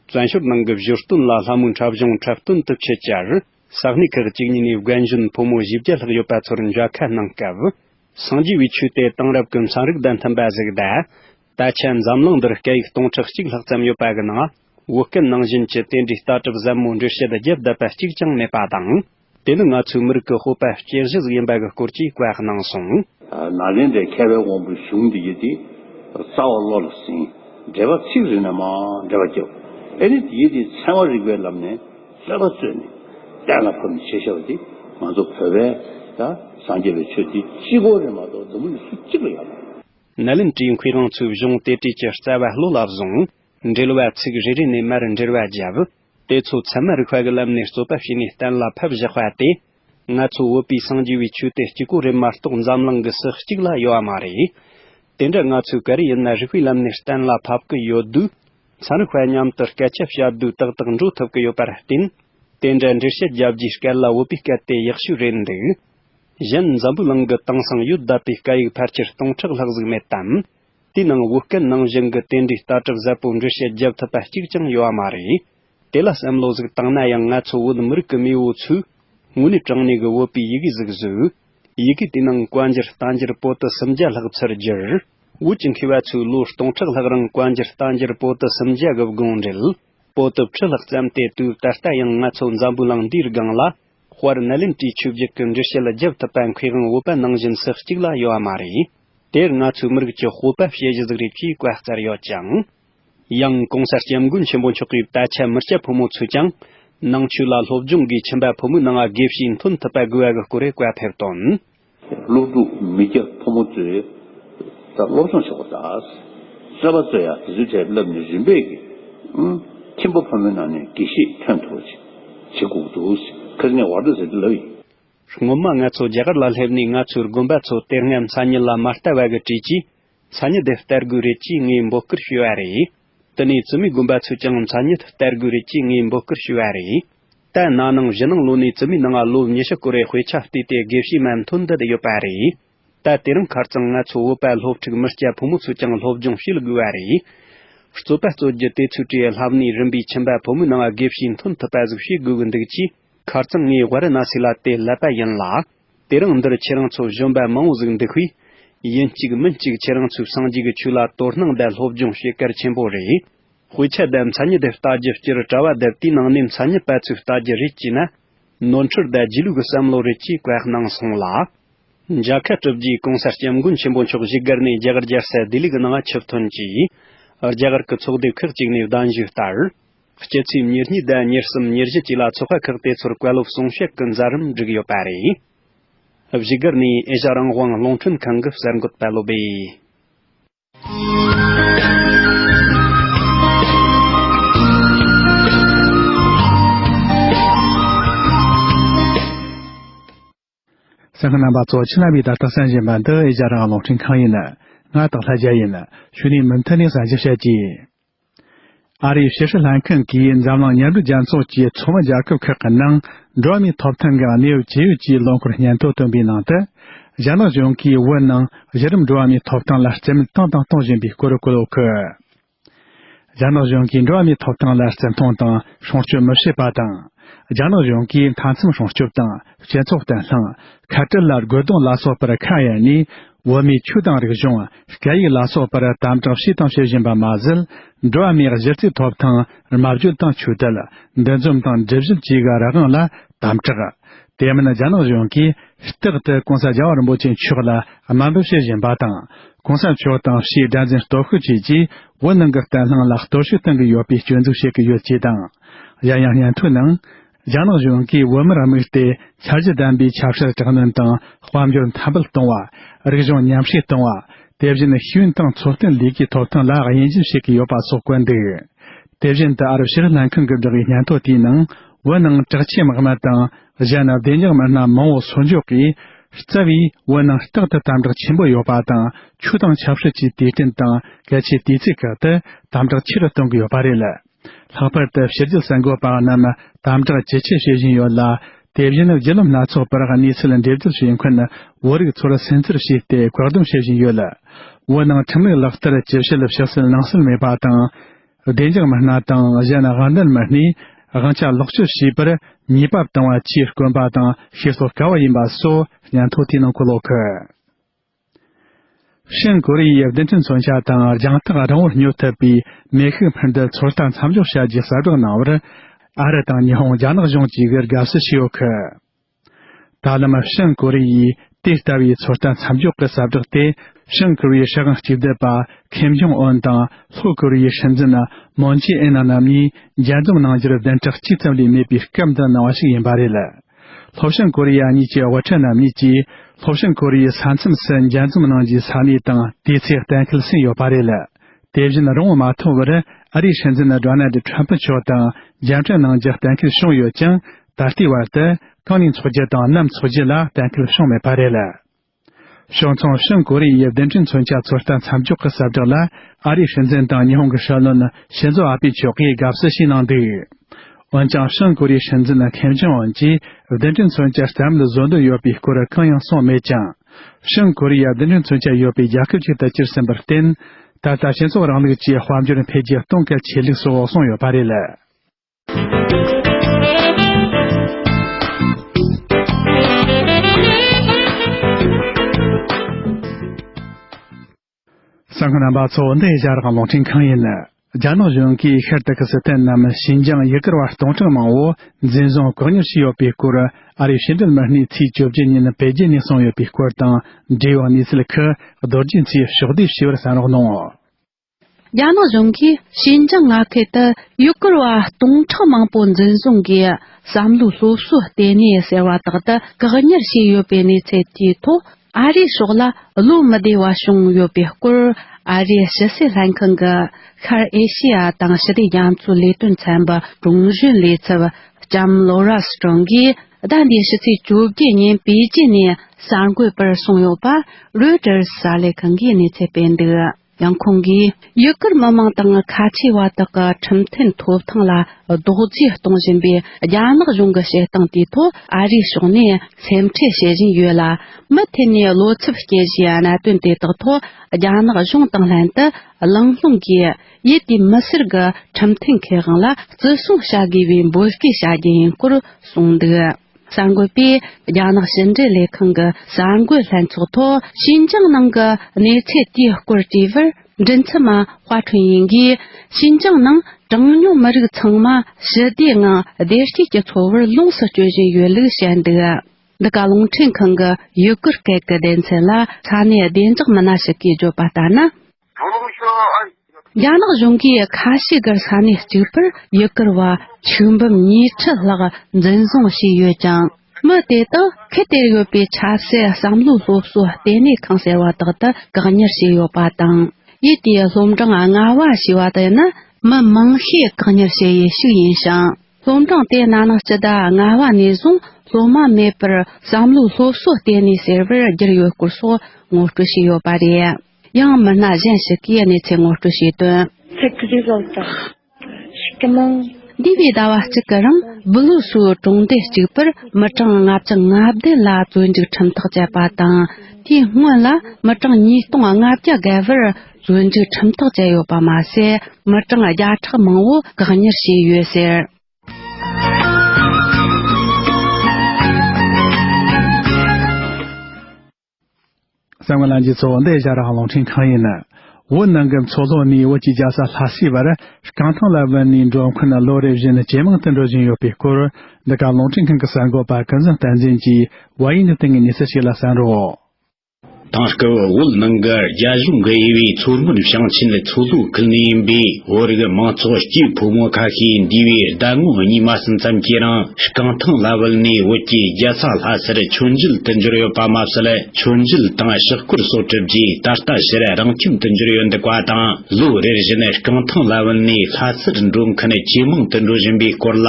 བཙན་ཞོར་ནང་གི་བཞུར་སྟོན་ལ་ལྷ་མོའི་འཁྲབ་གཞུང་འཁྲབ་སྟོན་དུ་ཆེད་བཅར། ས་གནས་ཁག་ཅིག་ཉིད་ནས་རྒན་གཞོན་ཕོ་མོ་བཞི་བརྒྱ་ལྷག་ཡོད་པ་ཚོར་མཇལ་ཁ་གནང་སྐབས། སངས་རྒྱས་པའི་ཆོས་དེ་དེང་རབས་ཀྱི་ཚན་རིག་དང་མཐུན་པ་ཞིག་གདའ། ད་ཆ་འཛམ་གླིང་འདིར་སྐད་ཡིག་སྟོང་ཕྲག་གཅིག་ལྷག་ཙམ་ཡོད་པ་གི་ནང། བོད་སྐད་ནང་བཞིན་གྱི་དེ་འདྲའི་ལྟ་གྲུབ་ཟབ་མོ་འགྲེལ་བཤད་རྒྱས་བསྡད་པ་གཅིག་ཀྱང་མེད་པ་དང། དེ་ནི་ང་ཚོའི་མི་རིགས་ཀྱི་སྤོབས་པ་
སྐྱེ་གཞི་ཞིག་ཡིན་པ་གི་སྐོར་གྱི་བཀའ་གནང་སོང། ན་རེ་འདྲའི་མཁས་པའི་དབང་པོའི་གཞུང་འདི་ཡི་དེ། རྩ་བ་བློ་ལ་ཟིན། འགྲེལ་པ་ཚིག་རིག་ན་མ་འདྲེས་པ་སྐྱོབས། ཨེ་རེད་དེ་ཡི་དེ་ཚན་བ་རིག་པའི་ལམ་ནས། གསལ་བར་བརྩོན་ནས་གཏན་ལ་ཕབ་ནས་བྱེད་ཤེས་པ་དེ་ང་ཚོ་བོད་པས་སངས་རྒྱས་པའི་ཆོས་འདི་གཅིག་གོ་རེ་མ་གཏོགས་འཛམ་བུ་ལུས་སུ་གཅིག་ལ་ཡོད་མ་རེད། ནད་ལམ་དྲིས་འཁོས་རང་ཚོའི་གཞུང་གཏེར་བྲིས་ཀྱི་རྩ་བ་བློ་ལ་བཟུང། འགྲེལ་བ་ཚིག་རེ་རེ་ནས་མར་འགྲེལ་བ་བརྒྱབ། དེ་ཚོ་ཚད་མ་རིག་པ་གི་ལམ་ནས་རྩོད་པ་བྱས་ནས་གཏན་ལ་ཕབ་བཞག་པ་དེ། ང་ཚོ་བོད་པའི་སངས་རྒྱས་པའི་ཆོས་དེ་
གཅིག་གོ་རེ་མ་གཏོགས་འཛམ་གླིང་གི་སུ་གཅིག་ལ་ཡོད་མ་རེད། དེ་འདྲ་ང་ཚོས་ག་རེ་ཡིན་ན་རིག་པའི་ལམ་ནས་གཏན་ལ་ཕབ་གི་ཡོད་དུས། ཚན་རིག་པས་མཉམ་དུ་སྐད་ཆ་བྱ་དུས་ཏག་ཏག་འགྲོ་ཐུབ་ཀྱི་ཡོད་པར་བརྟེན། དེ་འདྲའི་འགྲེལ་བཤད་བརྒྱབ་རྒྱུའི་སྐད་ལ་འོས་པའི་སྐད་དེ་ཡག་ཤོས་རེད་འདུག། གཞན་འཛམ་བུའི་གླིང་གི་དེང་སང་ཡོད་བསྡད་པའི་སྐད་ཡིག་ཕལ་ཆེར་སྟོང་ཕྲག་ལྷག་གཟིགས་མེད་དམ། དེའི་ནང་བོད་སྐད་ནང་བཞིན་གྱི་དེ་འདྲའི་ལྟ་གྲུབ་ཟབ་པོའི་འགྲེལ་བཤད་བརྒྱབ་ཐུབ་པ་གཅིག་ཀྱང་ཡོད་མ་རེད། དེ་ལ་བསམ་བློ་གཟིགས་བཏང་ན་ཡང་ང་ཚོ་བོད་མི་རིགས་ཀྱི་མེས་བོ་ཚོས་དངོས་གནས་དྲང་གནས་ཀྱི་འོས་པའི་ཡི་གེ་གཟིགས་བཟོས། ཡི་གེ་དེའི་ནང་བཀའ་འགྱུར་རྟ་འགྱུར་པོ་ཏི་སུམ་བརྒྱ་ལྷག་ཚུར་བསྒྱུར། བོད་ཀྱི་མཁས་པ་ཚོས་ལོ་སྟོང་ཕྲག་ལྷག་རིང་བཀའ་འགྱུར་རྟ་འགྱུར་པོ་ཏི་སུམ་བརྒྱ་གི་དགོངས་འགྲེལ། པོ་ཏི་བཅུ་ལྷག་བརྩམས་ཏེ་དུས་ད་ལྟ་ཡང་ང་ཚོ་འཛམ་བུའི་གླིང་འདིའི་སྒང་ལ། དཔར་ན་ལིན་ཀྲིའི་ཆོས་བརྒྱུད་ཀྱི་འགྲེལ་བཤད་ལ་བརྒྱབ་ཐུབ་པ་མཁས་དབང་བོད་པ་ནང་བཞིན་སུ་གཅིག་ལ་ཡོད་པ་མ་རེད། དེར་ང་ཚོའི་མི་རིགས་ཀྱི་སྤོབས་པ་དཔྱད་གཞི་གཟིགས་རེས་ཀྱིས་བཀའ་སྩལ་ཡོད་ཀྱང། ཡང་གོང་གསལ་སྐྱབས་མགོན་ཆེན་པོ་མཆོག་གིས་དད་ཆ་མི་སྐྱ་ཕོ་མོ་ཚོས་ཀྱང། ནང་ཆོས་ལ་སློབ་སྦྱོང་གིས་ཁྱིམ་པ་ཕོ་མོའི་སྣང་བ་དགེ་བཤེས་འཐོན་ཐུབ་པ་དགོས་བ་གི་སྐོར་རེ་བཀའ་ཕེབས་དོན། སློབ་ཕྲུག་མི་སྐྱ་
ཕོ་མོ་ཚོས་ད་སློབ་སྦྱོང་ཆོག་པ་དང། གསོལ་བ་སྩོལ་ཡག་དེ་ཚོའི་གྲས་བསླབ་ནས་རིམ་པས་གི། ཁྱིམ་པ་ཕོ་མོའི་ནང་ནས་དགེ་བཤེས་འཐོན་ཐུབ་པ་ཅིག་བྱེད་དགོས་ཀྱི་འདུག་ཁིར་ངས་བར་དོ་ཟེར་དུས་ལབ་ཡིན། སྔོན་མ་ང་ཚོ་རྒྱ་གར་ལ་སླེབས་ནས་ང་ཚོའི་དགོན་པ་ཚོ་དེ་སྔ་མཚན་ཉིད་ལ་མ་ལྟ་བ་གི་བྲིས་ཀྱིས་མཚན་ཉིད་དེ་སྟེར་དགོས་རེད་ཅེས་ངས་འབོད་སྐུལ་ཞུས་བ་རེད། དེ་ནས་བཙུན་མོའི་དགོན་པ་ཚོས་ཀྱང་མཚན་ཉིད་སྟེར་དགོས་རེད་ཅེས་ངས་འབོད་སྐུལ་ཞུས་བ་རེད། ད་ན་ནིང་བཞི་ནང་ལོ་
ནས་བཙུན་མོའི་ནང་ལོ་ཉི་ཤུ་སྐོར་བའི་དཔེ་ཆ་བལྟས་ཏེ་དགེ་བཤེས་མ་མཐོ་འདི་དུ་ཡོད་པ་རེད། ད་དེ་རིང་ཁར་ཙང་ང་ཚོ་བོད་པ་སློབ་ཕྲུག་མི་སྐྱ་ཕོ་མོ་ཚོས་ཀྱང་སློབ་སྦྱོང་བྱེད་དགོས་བ་རེད། རྩོད་པ་རྩོད་རྒྱུ་དེ་ཚོའི་གྲས་ལྷ་མིའི་རིམ་པའི་ཁྱིམ་པ་ཕོ་མོའི་ནང་དགེ་བཤེས་མཐོ་འཐོབ་པ་ཟིག་བྱེད་དགོས་གི་འདུག་ཅེས་ཁར་ཙང་ངས་བར་ན་སི་ལ་དེ་ལབ་པ་ཡིན་ལ། དེ་རིང་འདིར་ཁྱེད་རང་ཚོ་གཞོན་པ་མང་བོ་གཟུགས་འདུག་ཤིས། ཡིན་གཅིག་མིན་གཅིག་ཁྱེད་རང་ཚོའི་སངས་རྒྱས་ཀྱི་ཆོས་ལ་དོ་སྣང་བརྡལ་སློབ་སྦྱོང་བྱེད་གལ་ཆེན་པོ་རེད། དཔེ་ཆ་དེ་མཚན་ཉིད་དེ་ལྟ་རྒྱུ་སྤྱིར་དྲ་བ་དེ་དུས་ནང་ནས་མཚན་ཉིད་པ་ཚོས་ལྟ་རྒྱུ་རེད་ཅེ་ན། ནོར་འཁྲུལ་དེ་སྒྱིད་ལུག་གི་བསམ་བློ་རེད་ཅེས་བཀའ་གནང་སོང་ལ། རྒྱལ་ཁ་གྲུབ་རྗེས་གོང་ས་སྐྱབས་མགོན་ཆེན་པོ་མཆོག་གཞིས་སྒར་ནས་རྒྱ་གར་རྒྱལ་སའི་བདེ་ལུགས་ནང་ཆུ་ཐོན་རྗེས། རྒྱ་གར་གྱི་ཚོགས་སྡེ་ཁག་ཅིག་ནས་གདན་ཞུས་ལྟར། སྤྱི་འཐུས་ཉེར་གཉིས་བརྒྱད་ཉེར་གསུམ་ཉེར་བཞི་བཅས་ལ་ཚོགས་ཁག་ཁག་དེ་ཚོར་བཀའ་སློབ་གསུང་བཤད་ཀྱི་མཛད་རིམ་བསྒྲིགས་ཡོད་པ་རེད། གཞིས་སྒར་ནས་ཨེ་ཤ་རང་དབང་རླུང་འཕྲིན་ཁང་གི་གསར་འགོད་པ་བློ་བདེ།
སེམས་ཀྱི་རྣམ་པ་གཙོ་ཆེ་ལམ་བུའི་ད་ལྟ་སེམས་བཞིན་པ་འདི་ཨེ་རྒྱ་རང་གློག་འཕྲིན་ཁང་ཡིན། ང་དང་ལྷ་རྒྱལ་ཡིན། ཞུ་ནས་མུ་མཐུད་ནས་གསར་འགྱུར་བཤད་ཀྱིས། ཨ་རིའི་ཕྱི་སྲིད་ལྷན་ཁང་གིས་འཛམ་གླིང་མཉམ་འབྲེལ་རྒྱལ་ཚོགས་ཀྱི་ཚོགས་མི་རྒྱལ་ཁབ་ཁག་གི་ནང་འགྲོ་མིའི་ཐོབ་ཐང་གི་གནས་བབ་ཇི་ཡོད་ཀྱི་ལོ་འཁོར་སྙན་ཐོ་བཏོན་པའི་ནང་དུ། རྒྱ་ནག་གཞུང་གིས་བོད་ནང་གཞི་རིམ་འགྲོ་བ་མིའི་ཐོབ་ཐང་ལ་རྩིས་མེད་བཏང་དང་གཏོང་བཞིན་པའི་སྐོར་བཀོད་འདུག། རྒྱ་ནག་གཞུང་གིས་འགྲོ་བ་མིའི་ཐོབ་ཐང་ལ་བརྩི་མཐོང་དང་སྲུང་སྐྱོབ་མི་བྱེད་པ་དང། རྒྱ་ནག་གཞུང་གིས་མཐའ་མཚམས་སྲུང་སྐྱོབ་དང་སྤྱི་ཚོགས་བརྟན་ལྷིང། ཁ་བྲལ་ལ་རྒོལ་རྡུང་ལ་སོགས་པར་ཁ་གཡར་ནས་བོད་མིའི་ཆོས་དང་རིག་གཞུང། སྐད་ཡིག་ལ་སོགས་པར་དམ་དྲག་བྱས་དང་བྱེད་བཞིན་པ་མ་ཟད། འགྲོ་བ་མིའི་གཞི་རྩའི་ཐོབ་ཐང་རྨ་བརྗོད་དང་ཆོས་དད། འདུ་འཛོམས་དང་སྒྲིབ་གཞི་བཅས་ཀྱི་རང་དབང་ལ་དམ་བསྒྲགས། དེ་མིན་རྒྱ་ནག་གཞུང་གིས་རྟག་ཏུ་གོང་ས་རྒྱ་བ་རིན་པོ་ཆེ་མཆོག་ལ་དམའ་འབེབས་བྱེད་བཞིན་པ་དང། གོང་ས་མཆོག་དང་ཕྱིའི་དགྲ་འཛིན་སྟོབས་ཤུགས་བཅས་ཀྱིས་བོད་ནང་གི་བརྟན་ལྷིང་ལ་གཏོར་བཤིག་གཏོང་གི་ཡོད་པའི་སྐྱོན་འཛུགས་བྱེད་ཀྱི་ཡོད་ཅེས་དང། གཞན་ཡང་སྙན་ཐོའི་ནང། རྒྱ་ནག་གཞུང་གིས་བོད་མིར་དམིགས་ཏེ་འཆར་གཞི་ལྡན་པའི་ཆབ་སྲིད་དྲག་གནོན་དང་དཔལ་འབྱོར་འཐབ་འབུད་གཏོང་བ། རིག་གཞུང་ཉམས་བཞེས་གཏོང་བ། དེ་བཞིན་ཤེས་ཡོན་དང་འཚོ་རྟེན་ལས་ཀའི་ཐོབ་ཐང་ལ་དབྱེ་འབྱེད་བྱེད་ཀྱི་ཡོད་པ་སོགས་བཀོད་འདུག་དེ་བཞིན་དུ་ཨ་རབ་ཕྱི་རུ་ལྷན་ཁང་གི་བདག་གི་སྙན་ཐོ་དེའི་ནང་བོད་ནང་དྲག་ཆས་དམག་མི་དང་གཞན་ནང་བདེ་འཇགས་མི་སྣ་མང་བོ་གསོ་འཇོག་གིས་རྩ་བའི་བོད་ནང་རྟག་ཏུ་དམ་དྲག་ཆེན་པོ་ཡོད་པ་དང་ཆུ་དྭངས་ཆབ་སྲིད་ཀྱི་དུས་དྲན་དང་གལ་ཆེའི་དུས་ཚིགས་ཁག་ཏུ་དམ་དྲག་ཆེ་རུ་གཏོང་གི་ཡོད་པ་རེད། ལྷག་པར་དུ་ཕྱི་རྒྱལ་གསར་འགོད་པ་རྣམས་དམ་དྲག་ཇེ་ཆེ་བྱེད་བཞིན་ཡོད་ལ་དེ་བཞིན་བརྒྱུད་ལམ་སྣ་ཚོགས་པར་གནས་ཚུལ་འགྲེལ་བརྗོད་བྱེད་མཁན་བོད་རིགས་ཚོར་སེམས་ཚོར་བྱས་ཏེ་བཀག་སྡོམ་བྱེད་བཞིན་ཡོད། བོད་ནང་ཁྲིམས་ལུགས་ལག་བསྟར་ཇི་བྱེད་ཕྱི་སེལ་ནང་སེལ་མེད་པ་དང། བདེ་འཇགས་མི་སྣ་དང་གཞན་དབང་ལྡན་མི་སྣས་དབང་ཆ་ལོག་སྤྱོད་བྱས་པར་ཉེས་པ་བཏང་བ་བཅས་དཀོན་པ་དང་ཤེས་རྟོགས་དཀའ་བ་ཡིན་པ་སོགས་སྙན་ཐོ་དེའི་ནང་གོ་ལོག་གི། ཤན་གོ་རི་ཡའི་བདེན་དོན་མཚོན་ཆ་དང་རྒྱང་ཐག་རིང་བོར་སྙོད་ཐུབ་པའི་མེ་ཤུགས་འཕུར་མདའི་ཚོད་ལྟ་མཚམས་འཇོག་བྱ་རྒྱུའི་གསལ་བསྒྲགས་གནང་བར་ཨ་རི་དང་ཉི་ཧོང་རྒྱ་ནག་གཞུང་གཅིག་གིས་དགའ་བསུ་ཞུས་ཡོད་ཁུལ། ད་ལམ་བྱང་ཀོ་རི་ཡིས་དེ་ལྟ་བུའི་ཚོད་ལྟ་མཚམས་འཇོག་གི་གསལ་བསྒྲགས་དེ་བྱང་ཀོ་རི་ཡའི་ཧྲེ་ཝང་གཅིག་སྡུད་པ་ཁེམ་ཇོང་ཨོན་དང་ལྷོ་ཀོ་རི་ཡའི་སྲིད་འཛིན་མོན་ཇེ་ཨིན་རྣམ་གཉིས་མཇལ་འཛོམས་གནང་རྒྱུར་གདན་གྲགས་གཅིག་ཙམ་ལས་མེད་པའི་སྐབས་འདི་གནང་བ་ཞིག་ཡིན་པ་རེད། ལྷོ་བྱང་ཀོ་རི་ཡ་གཉིས་ཀྱི་དབུ་ཁྲིད་རྣམ་གཉིས་ཀྱིས་ལྷོ་བྱང་ཀོ་རི་ཡའི་ས་མཚམས་སུ་མཇལ་འཛོམས་གནང་རྒྱུའི་ས་གནས་དང་དུས་ཚེས་གཏན་འཁེལ་ཟིན་ཡོད་པ་རེད། དེ་བཞིན་རང་དབང་མ་ཐོབ་བར་ཨ་རིའི་སྲིད་འཛིན་རོ་ནལ་ཏྲམ་པུ་མཆོག་དང་མཇལ་འཕྲད་གནང་རྒྱུ་གཏན་འཁེལ་བྱུང་ཡོད་ཀྱང་ད་ལྟའི་བར་དུ་གང་ནས་འཚོགས་རྒྱུ་དང་ནམ་འཚོགས་རྒྱུ་ལ་གཏན་འཁེལ་བྱུང་མེད་པ་རེད་ལ། ཕྱོགས་མཚུངས་ཤིན་ཀོ་རི་ཡའི་གདན་ཁྲི་མཚོན་ཆ་ཚོད་ལྟ་མཚམས་འཇོག་གི་གསལ་བསྒྲགས་ལ་ཨ་རིའི་སྲིད་འཛིན་དང་ཉི་ཧོང་གི་ཧྲི་ལོན་ཤིན་ཛོ་ཨ་པི་མཆོག་གིས་དགའ་བསུ་ཞིག་གནང་འདུག་འོན་ཀྱང་ཤིན་ཀོ་རི་ཡའི་སྲིད་འཛིན་ཁེམ་ཇོང་ཨོན་གྱིས་གདན་ཁྲི་མཚོན་ཆ་རྩ་མེད་བཟོ་འདོད་ཡོད་པའི་སྐོར་གང་ཡང་གསུངས་མེད་ཅིང། བྱང་ཀོ་རི་ཡ་འདི་འདྲའི་མཚོན་ཆ་ཡོད་པའི་རྒྱལ་ཁབ་ཅིག་ཏུ་གྱུར་ཟིན་པར་བརྟེན། ད་ལྟ་སྤྱི་ཚོགས་རིང་ལུགས་ཀྱི་དཔལ་འབྱོར་འཕེལ་རྒྱས་གཏོང་གལ་ཆེ་ལུགས་སུ་འོག་སོང་ཡོད་པ་རེད་ལ། ས་ཁང་རྣམ་པ་གཙོ་བོ་འདི་རྒྱ་རག་གློག་འཕྲིན་ཁང་ཡིན། རྒྱ་ནག་གཞུང་གིས་ཤར་ཏི་ཀི་སི་ཐན་ནམ་ཞིན་ཅང་ཡུལ་སྐོར་བ་སྟོང་ཕྲག་མང་བོ་འཛིན་བཟུང་བཀག་ཉར་བྱས་ཡོད་པའི་སྐོར་ཨ་རིའི་ཕྱི་འབྲེལ་མི་སྣས་ཚེས་བཅོ་བརྒྱད་ཉིན་པེ་ཅིན་ནས་གསུངས་ཡོད་པའི་སྐོར་དང་འབྲེལ་བའི་གནས་ཚུལ་ཁག་རྡོ་རྗེ་མཚོས་ཕྱོགས་བསྡུས་ཞི་བར་གསན་རོགས་གནང། རྒྱ་ནག་
གཞུང་གིས་ཞིན་ཅང་མངའ་ཁུལ་དུ་ཡུལ་སྐོར་བ་སྟོང་ཕྲག་མང་པོ་འཛིན་བཟུང་གིས་བསམ་བློའི་སློབ་གསོ་ལྟེ་གནས་ཟེར་བ་དག་ཏུ་བཀག་ཉར་བྱས་ཡོད་པའི་གནས་ཚུལ་དེའི་ཐོག་ཨ་རི་སོགས་ལ་བློ་མི་བདེ་བ་བྱུང་ཡོད་པའི་སྐོར་ཨ་རིའི་ཕྱི་སྲིད་ལྷན་ཁང་གི་ཤར་ཨེ་ཤེ་ཡ་དང་ཞི་བདེ་རྒྱ་མཚོའི་ལས་དོན་ཚན་པའི་དྲུང་གཞོན་ལས་ཚབ་ལྕམ་ལོ་རཱ་སི་ཀྲོང་གིས་ཟླ་འདིའི་ཕྱི་ཚེས་བཅོ་བརྒྱད་ཉིན་པེ་ཅིན་ནས་གསར་འགོད་པར་གསུངས་ཡོད་པ་རོས་ཀྲེར་གསར་ལས་ཁང་གིས་གནས་ཚད་སྤེལ་འདུག། ཡང་ཁོང་གིས་ཡུ་གུར་མི་མང་དང་ཁ་ཆེ་བ་དག་གི་ཁྲིམས་མཐུན་ཐོབ་ཐང་ལ་རྡོག་བརྫིས་གཏོང་བཞིན་པའི་རྒྱ་ནག་གཞུང་གི་བྱེད་སྟངས་དེའི་ཐོག་ཨ་རིའི་ཕྱོགས་ནས་སེམས་ཁྲལ་བྱེད་བཞིན་ཡོད་ལ། མུ་མཐུད་ནས་བློ་འཚབ་སྐྱེ་བཞིན་གནད་དོན་དེ་དག་ཐོག་རྒྱ་ནག་གཞུང་དང་ལྷན་དུ་ལང་ལྷུང་གིས་ཡུལ་དེའི་མི་སེར་གྱི་ཁྲིམས་མཐུན་ཁེ་དབང་ལ་བརྩི་སྲུང་བྱ་དགོས་པའི་འབོད་སྐུལ་བྱ་རྒྱུ་ཡིན་སྐོར་གསུངས་འདུག། གསར་འགོད་པས་རྒྱ་ནག་ཕྱི་འབྲེལ་ལས་ཁང་གི་གསར་འགོད་ལྷན་ཚོགས་ཐོག་ཤིན་ཅང་ནང་གི་གནས་ཚད་དེའི་སྐོར་དྲིས་པར་མགྲིན་ཚབ་མ་ཧོ་ཁྲུན་ཡིང་གིས་ཤིན་ཅང་ནང་གྲངས་ཉུང་མི་རིགས་ཚང་མ་ཞི་བདེའི་ངང་བདེ་སྐྱིད་ཀྱི་འཚོ་བར་ལོངས་སུ་སྤྱོད་བཞིན་ཡོད་ལུགས་བཤད་འདུག་འདི་ག་རླུང་འཕྲིན་ཁང་གི་ཡུ་གུར་སྐད་ཀྱི་སྡེ་ཚན་ལ་ས་གནས་བདེ་འཇགས་མི་སྣ་ཞིག་གིས་བརྗོད་པ་ལྟར་ན། རྒྱ་ནག་གཞུང་གིས་ཁ་ཤས་ཀྱི་ས་གནས་གཅིག་པུར་ཡུལ་སྐོར་བ་ཆིག་འབུམ་ཉིས་ཁྲི་ལྷག་འཛིན་བཟུང་བྱས་ཡོད་ཀྱང། མི་དེ་དག་གིས་དེར་ཡོད་པའི་ཆ་སྲིད་བསམ་བློའི་སློབ་གསོའི་ལྟེ་གནས་ཁང་ཟེར་བ་དག་ཏུ་བཀག་ཉར་བྱས་ཡོད་པ་དང། ཡུལ་དེའི་སློབ་འབྲིང་ལྔ་བ་ཞེས་པ་དེ་ནི་མི་མང་ཤས་བཀག་ཉར་བྱས་ཡུལ་ཞིག་ཡིན་ཞིང། སློབ་འབྲིང་དེ་ན་ནི་སྤྱི་ཟླ་ལྔ་བ་ནས་བཟུང་སློབ་མ་མེད་པར་བསམ་བློའི་སློབ་གསོའི་ལྟེ་གནས་ཟེར་བར་བསྒྱུར་ཡོད་སྐོར་སོགས་ངོ་སྤྲོད་བྱས་ཡོད་པ་རེད། ཡང་མི་སྣ་གཞན་ཞིག་གིས་གནས་ཚད་ངོ་སྤྲོད་བྱས་དོན། Tech
Result། ཞིག་གི་ནང། འདས་པའི་
ཟླ་བ་གཅིག་གི་རིང་སྦི་ལུ་སུའུ་གྲོང་སྡེ་གཅིག་པུར་མི་གྲངས་ལྔ་བཅུ་ལྔ་བདུན་ལ་བཙོན་འཇུག་ཁྲིམས་ཐག་བཅད་པ་དང་དེའི་སྔོན་ལ་མི་གྲངས་ཉིས་སྟོང་ལྔ་བརྒྱ་བརྒལ་བར་བཙོན་འཇུག་ཁྲིམས་ཐག་བཅད་ཡོད་པ་མ་ཟད་མི་གྲངས་བརྒྱ་ཕྲག་མང་བོ་བཀག་ཉར་བྱས་ཡོད་ཟེར།
གསང་བ་རླན་གྱི་ཚོགས་འདི་བཞག་རང་ལོང་ཕྲེང་གང་ཡིན་ན། འོད་སྣང་གི་མཚོ་ལྷོ་ནས་འོད་ཀྱི་རྒྱ་ས་ལྷ་སའི་བར་རྐང་ཐང་ལ་བུད་ནས་འགྲོ་མཁན་ལོ་རེ་བཞིན་ཇེ་མང་དུ་འགྲོ་བཞིན་ཡོད་པའི་སྐོར་འདི་ག་ལོང་ཕྲེང་ཁང་གི་གསར་འགོད་པ་ཀུན་བཟང་བསྟན་འཛིན་གྱིས་བལ་ཡུལ་འདི་དེང་གི་གནས་ཚུལ་ཞིག་ལ་གསན་རོགས། དེང་སྐབས་འོད་སྣང་གི་རྒྱ་གཞུང་གི་དབྱེ་བས་མཚོ་སྔོན་ཞིང་ཆེན་ལ་མཚོ་ལྷོའི་ཁུལ་ནས་ཡིན་པས། བོད་རིགས་མང་ཚོགས་སྐྱིད་ཕོ་མོ་ཁ་ཤས་འདུས་པའི་ཟླ་ངོ་གཉིས་མ་ཟིན་ཙམ་གྱི་རིང་རྐང་ཐང་ལ་བུད་ནས་བོད་ཀྱི་རྒྱལ་ས་ལྷ་སར་ཆོས་མཇལ་དུ་འབྱོར་ཡོད་པ་མ་ཟད་ཆོས་མཇལ་དང་ཕྱག་སྐོར་སོགས་གྲུབ་རྗེས་ད་ལྟ་ཕྱིར་རང་ཁྱིམ་དུ་འབྱོར་ཡོད་འདུག་པ་དང་ལོ་རེར་བཞིན་རྐང་ཐང་ལ་བུད་ནས་ལྷ་སར་འགྲོ་མཁན་ཇེ་མང་དུ་འགྲོ་བཞིན་པའི་སྐོར་ལ།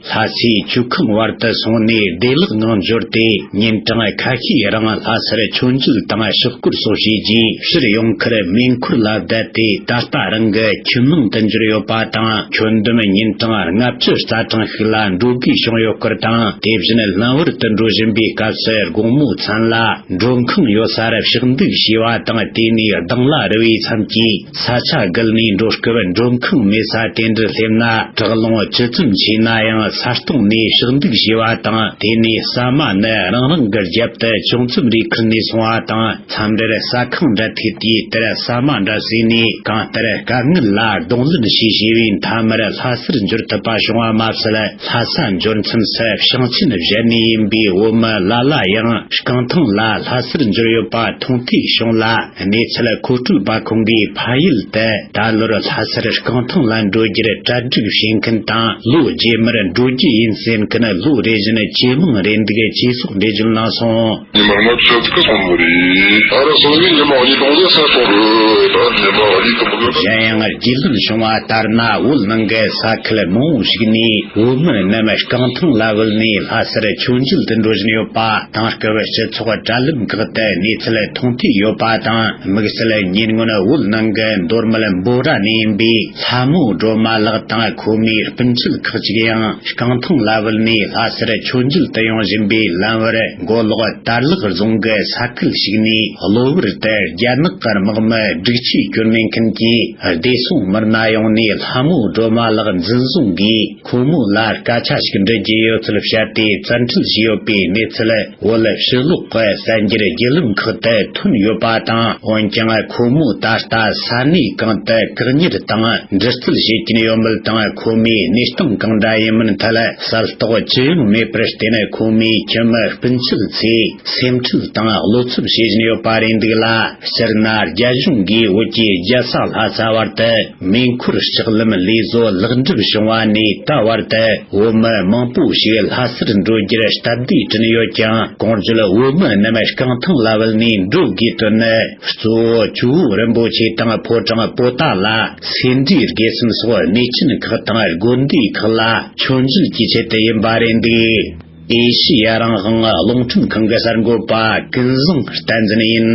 ལྷ་སའི་ཆུ་ཁང་བར་དུ་སོང་ནས་བདེ་
བླག་ངང་འབྱོར་ཏེ་ཉིན་གྲངས་ཁ་ཤས་རིང་ལྷ་སར་ཆུ་འཛུགས་དང་ཕྱོགས་སྐོར་སོགས་བྱས་རྗེས་ཕྱིར་ཡོང་ཁར་མེ་འཁོར་ལ་བསྡད་དེ་ད་ལྟ་རང་གི་ཁྱིམ་ནང་དུ་འབྱོར་ཡོད་པ་དང་ཁྱོན་བསྡོམས་ཉིན་གྲངས་ལྔ་བཅུ་རྩ་གྲངས་ཤིག་ལ་འགྲོ་དགོས་བྱུང་ཡོད་སྐོར་དང་དེ་བཞིན་སྣང་བར་དུ་འགྲོ་བཞིན་པའི་སྐབས་སུ་དགོང་མོ་ཚང་ལ་མགྲོན་ཁང་ཡོད་སར་ཕྱག་འདུག་བྱས་པ་དང་དེ་ནས་སྡང་ལ་རུ་བའི་མཚམས་ཀྱི། ས་ཆ་བརྒལ་ནས་འགྲོ་སྐབས་འགྲོ་མཁན་མེད་ས་དེ་འདྲར་སླེབས་ན་དྲག་རླུང་ཇི་ཙམ་ཆེ་ན་ཡང་ས་སྟེང་ནས་ཞག་འདུག་བྱས་པ་དང་དེ་ནས་ཟ་མ་ནི་རང་རང་གི་རྒྱབ་ཏུ་ཅུང་ཙམ་རེ་ཁུར་ནས་སོང་བ་དང་མཚམས་རེར་ཟ་ཁང་འདྲ་ཐེབས་དུས་དེར་ཟ་མ་འདྲ་ཟོས་ནས་གང་ལྟར་དཀའ་ངལ་ལ་གདོང་ལེན་བྱས་བྱས་པས་མཐའ་མར་ལྷ་སར་འབྱོར་ཐུབ་པ་བྱུང་བ་མ་ཟད་ལྷ་ས་འབྱོར་མཚམས་སུ་ཞིང་ཆེན་གཞན་ནས་ཡིན་པའི་བོད་མི་ལ་ལ་ཡང་རྐང་ཐང་ལ་ལྷ་སར་འབྱོར་ཡོད་པ་མཐོང་ཐོས་བྱུང་ལ། གནས་ཚུལ་མཁོ་སྤྲོད་པ་ཁོང་གིས་ཕ་ཡུལ་དུ་ད་ལོར་ལྷ་སར་རྐང་ཐང་ལ་འགྲོ་རྒྱུར་གྲ་སྒྲིག་བྱེད་མཁན་དང་ལོ་རྗེས་མར་འགྲོ་རྒྱུ་ཡིན་ཟེར་མཁན་ལོ་རེ་བཞིན་ཇེ་མང་རེད་འདུག་ཅེས་སོགས་འགྲེལ་བརྗོད་གནང་སོང། ཉི་མ་ལྔ་བཅུ་དགུ་སོང་བ་རེད། ད་རེས་སོང་ནས་ཉི་མ་གཉིས་སྟོང་ལས་སད་སོང་རེད་ད་ཉི་མ་གཉིས་སྟོང་ལས། གཞན་ཡང་རྒྱུས་ལོན་བྱུང་བ་ལྟར་ན་བོད་ནང་གི་ས་ཁུལ་མང་བོ་ཞིག་ནས་བོད་མི་རྣམས་རྐང་ཐང་ལ་བུད་ནས་ལྷ་སར་མཆོད་མཇལ་དུ་འགྲོ་བཞིན་ཡོད་པ་དང་སྐབས་སྤྱི་ཚོགས་གྲྭ་ལུགས་འགག་ཏུ་གནས་ཚུལ་མཐོང་ཐོས་ཡོད་པ་དང་དམིགས་བསལ་ཉེར་སྔོན་དབུལ་ནང་གི་མདོར་མལ་འབོ་ར་ནས་ཡིན་པའི་ལྷ་མོ་སྒྲོལ་མ་ལགས་དང་ཁོ་མོའི་སྤུན་ཆེད་ཁག་ཅིག་ཡང་རྐང་ཐང་ལ་བུད་ནས་ལྷ་སར་ཆོས་མཇལ་དུ་ཡོང་བཞིན་པའི་ལམ་བར་མགོ་ལོག་དར་ལག་རྫོང་གི་ས་ཁུལ་ཞིག་ནས་གློ་བུར་དུ་རྒྱ་ནག་གི་དམག་མི་སྒྲིག་ཆས་བསྐྱོར་མེད་མཁན་གྱིས་བདེ་སྲུང་མི་སྣ་ཡོང་ནས་ལྷ་མོ་སྒྲོལ་མ་ལགས་འཛིན་བཟུང་གིས། ཁོང་མོ་ལ་སྐད་ཆ་ཞིག་འདྲི་རྒྱུ་ཡོད་ཚུལ་བཤད་དེ་བཙན་འཁྲིད་བྱས་ཡོད་པའི་གནས་ཚུལ་བོད་ཕྱི་ལོགས་ཀྱི་གསལ་འགྱུར་བརྒྱུད་ལམ་ཁག་ཏུ་ཐོན་ཡོད་པ་དང་འོན་ཀྱང་ཁོང་མོ་ད་ལྟ་ས་གནས་གང་དུ་བཀག་
ཉར་དང་འདྲི་རྩད་བྱེད་ཀྱིན་ཡོད་མེད་དང་ཁོ་མོའི་གནས་སྟངས་གང་འདྲ་ཡིན་མིན་ཐད་གསལ་རྟོགས་ཅི་ཡང་མེད་པར་བརྟེན་ཁོང་མོའི་ཁྱིམ་མི་སྤུན་མཆེད་ཚོས་སེམས་ཁྲལ་དང་བློ་འཚབ་བྱེད་བཞིན་ཡོད་པ་རེད་འདུག་ལ་སྤྱིར་ན་རྒྱ་གཞུང་གིས་བོད་ཀྱི་རྒྱལ་ས་ལྷ་ས་བར་དུ། མེ་འཁོར་ལྕགས་ལམ་ལས་བཟོ་ལེགས་འགྲུབ་བྱུང་བ་ནས་ད་བར་དུ་བོད་མི་མང་པོ་ཞིག་ལྷ་སར་འགྲོ་རྒྱུར་སྟབས་བདེ་བསྐྲུན་ཡོད་ཀྱང་གང་བརྗོད་བོད་མི་རྣམས་རྐང་ཐང་ལ་བུད་ནས་འགྲོ་དགོས་དོན་ནི་གཙོ་བོ་ཆུ་བོ་རིན་པོ་ཆེ་དང་ཕོ་བྲང་པོ་ཏཱ་ལ་སེ་འབྲས་དགེ་གསུམ་སོགས་གནས་ཆེན་ཁག་དང་དགོན་སྡེ་ཁག་ལ་ཆོས་འབྱེད་ཀྱི་ཆེད་དུ་ཡིན་པ་རེད་འདུག་ཨེ་ཤི་ཡ་རང་དབང་རླུང་འཕྲིན་ཁང་གི་གསར་འགོད་པ་ཀུན་བཟང་བསྟན་འཛིན་ཡིན།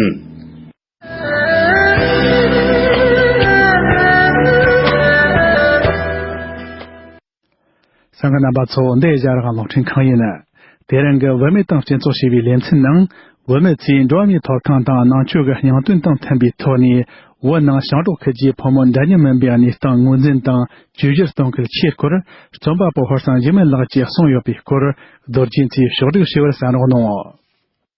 སང་གི་རྣམ་པ་ཚོ་འདི་གཞའ་རག་གློག་འཕྲིན་ཁང་ཡིན། དེ་རིང་གི་བོད་མི་དང་སྤྱི་ཚོགས་ཞེས་པའི་ལེ་ཚན་ནང་བོད་མི་ཚོས་འགྲོ་བ་མིའི་ཐོབ་ཐང་དང་ནང་ཆོས་ཀྱི་སྙིང་དོན་དང་མཐུན་པའི་ཐོག་ནས་བོད་ནང་ཞང་འབྲོག་ཁུལ་གྱི་ཕོ་མོ་འདྲ་མཉམ་མིན་པའི་གནས་སྟངས་ངོས་འཛིན་དང་བཅོས་བསྒྱུར་གཏོང་སྐུལ་ཆེད་སྐོར་རྩོམ་པ་པོ་ཧོར་སངས་འཇིགས་མེད་ལགས་ཀྱིས་གསུངས་ཡོད་པའི་སྐོར་རྡོར་གྱིས་ཚོས་ཕྱོགས་བསྒྲིགས་ཞུ་བར་གསན་རོགས་གནང།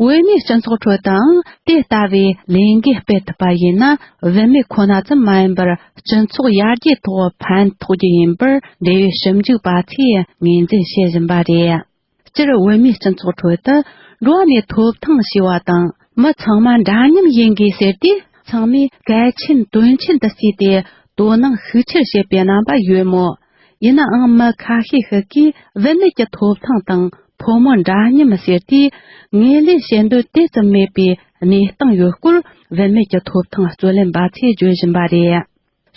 བོད་མིའི་སྤྱི་ཚོགས་ཁྲོད་དུའང་དེ་ལྟ་བུའི་ལས་འགན་སྤེལ་ཐུབ་པ་ཡིན་ན་བོད་མི་ཁོ་ན་ཙམ་མ་ཡིན་པར་སྤྱི་ཚོགས་ཡར་རྒྱས་ཐོག་ཕན་ཐོགས་རྒྱུ་ཡིན་པར་འབྲེལ་ཡོད་ཞིབ་འཇུག་པ་ཚོས་ངོས་འཛིན་བྱེད་བཞིན་པ་རེད། སྤྱིར་བོད་མིའི་སྤྱི་ཚོགས་ཁྲོད་དུ་འགྲོ་བ་མིའི་ཐོབ་ཐང་ཞེས་པ་དང་མི་ཚང་མ་འདྲ་མཉམ་ཡིན་དགོས་ཟེར་དུས་ཚང་མས་གལ་ཆེན་དོན་ཆེན་དུ་བརྩིས་ཏེ་དོ་སྣང་ཤུགས་ཆེར་བྱེད་པའི་རྣམ་པ་ཡོད་མོད། ཡིན་ནའང་མི་ཁ་ཤས་ཤིག་གིས་བུད་མེད་ཀྱི་ཐོབ་ཐང་དང་ཕོ་མོ་འདྲ་མཉམ་ཟེར་དུས་ངོས་ལེན་བྱེད་འདོད་དེ་ཙམ་མེད་པའི་གནས་སྟངས་ཡོད་སྐོར་བུད་མེད་ཀྱི་ཐོབ་ཐང་རྩོད་ལེན་པ་ཚོས་བརྗོད་བཞིན་པ་རེད།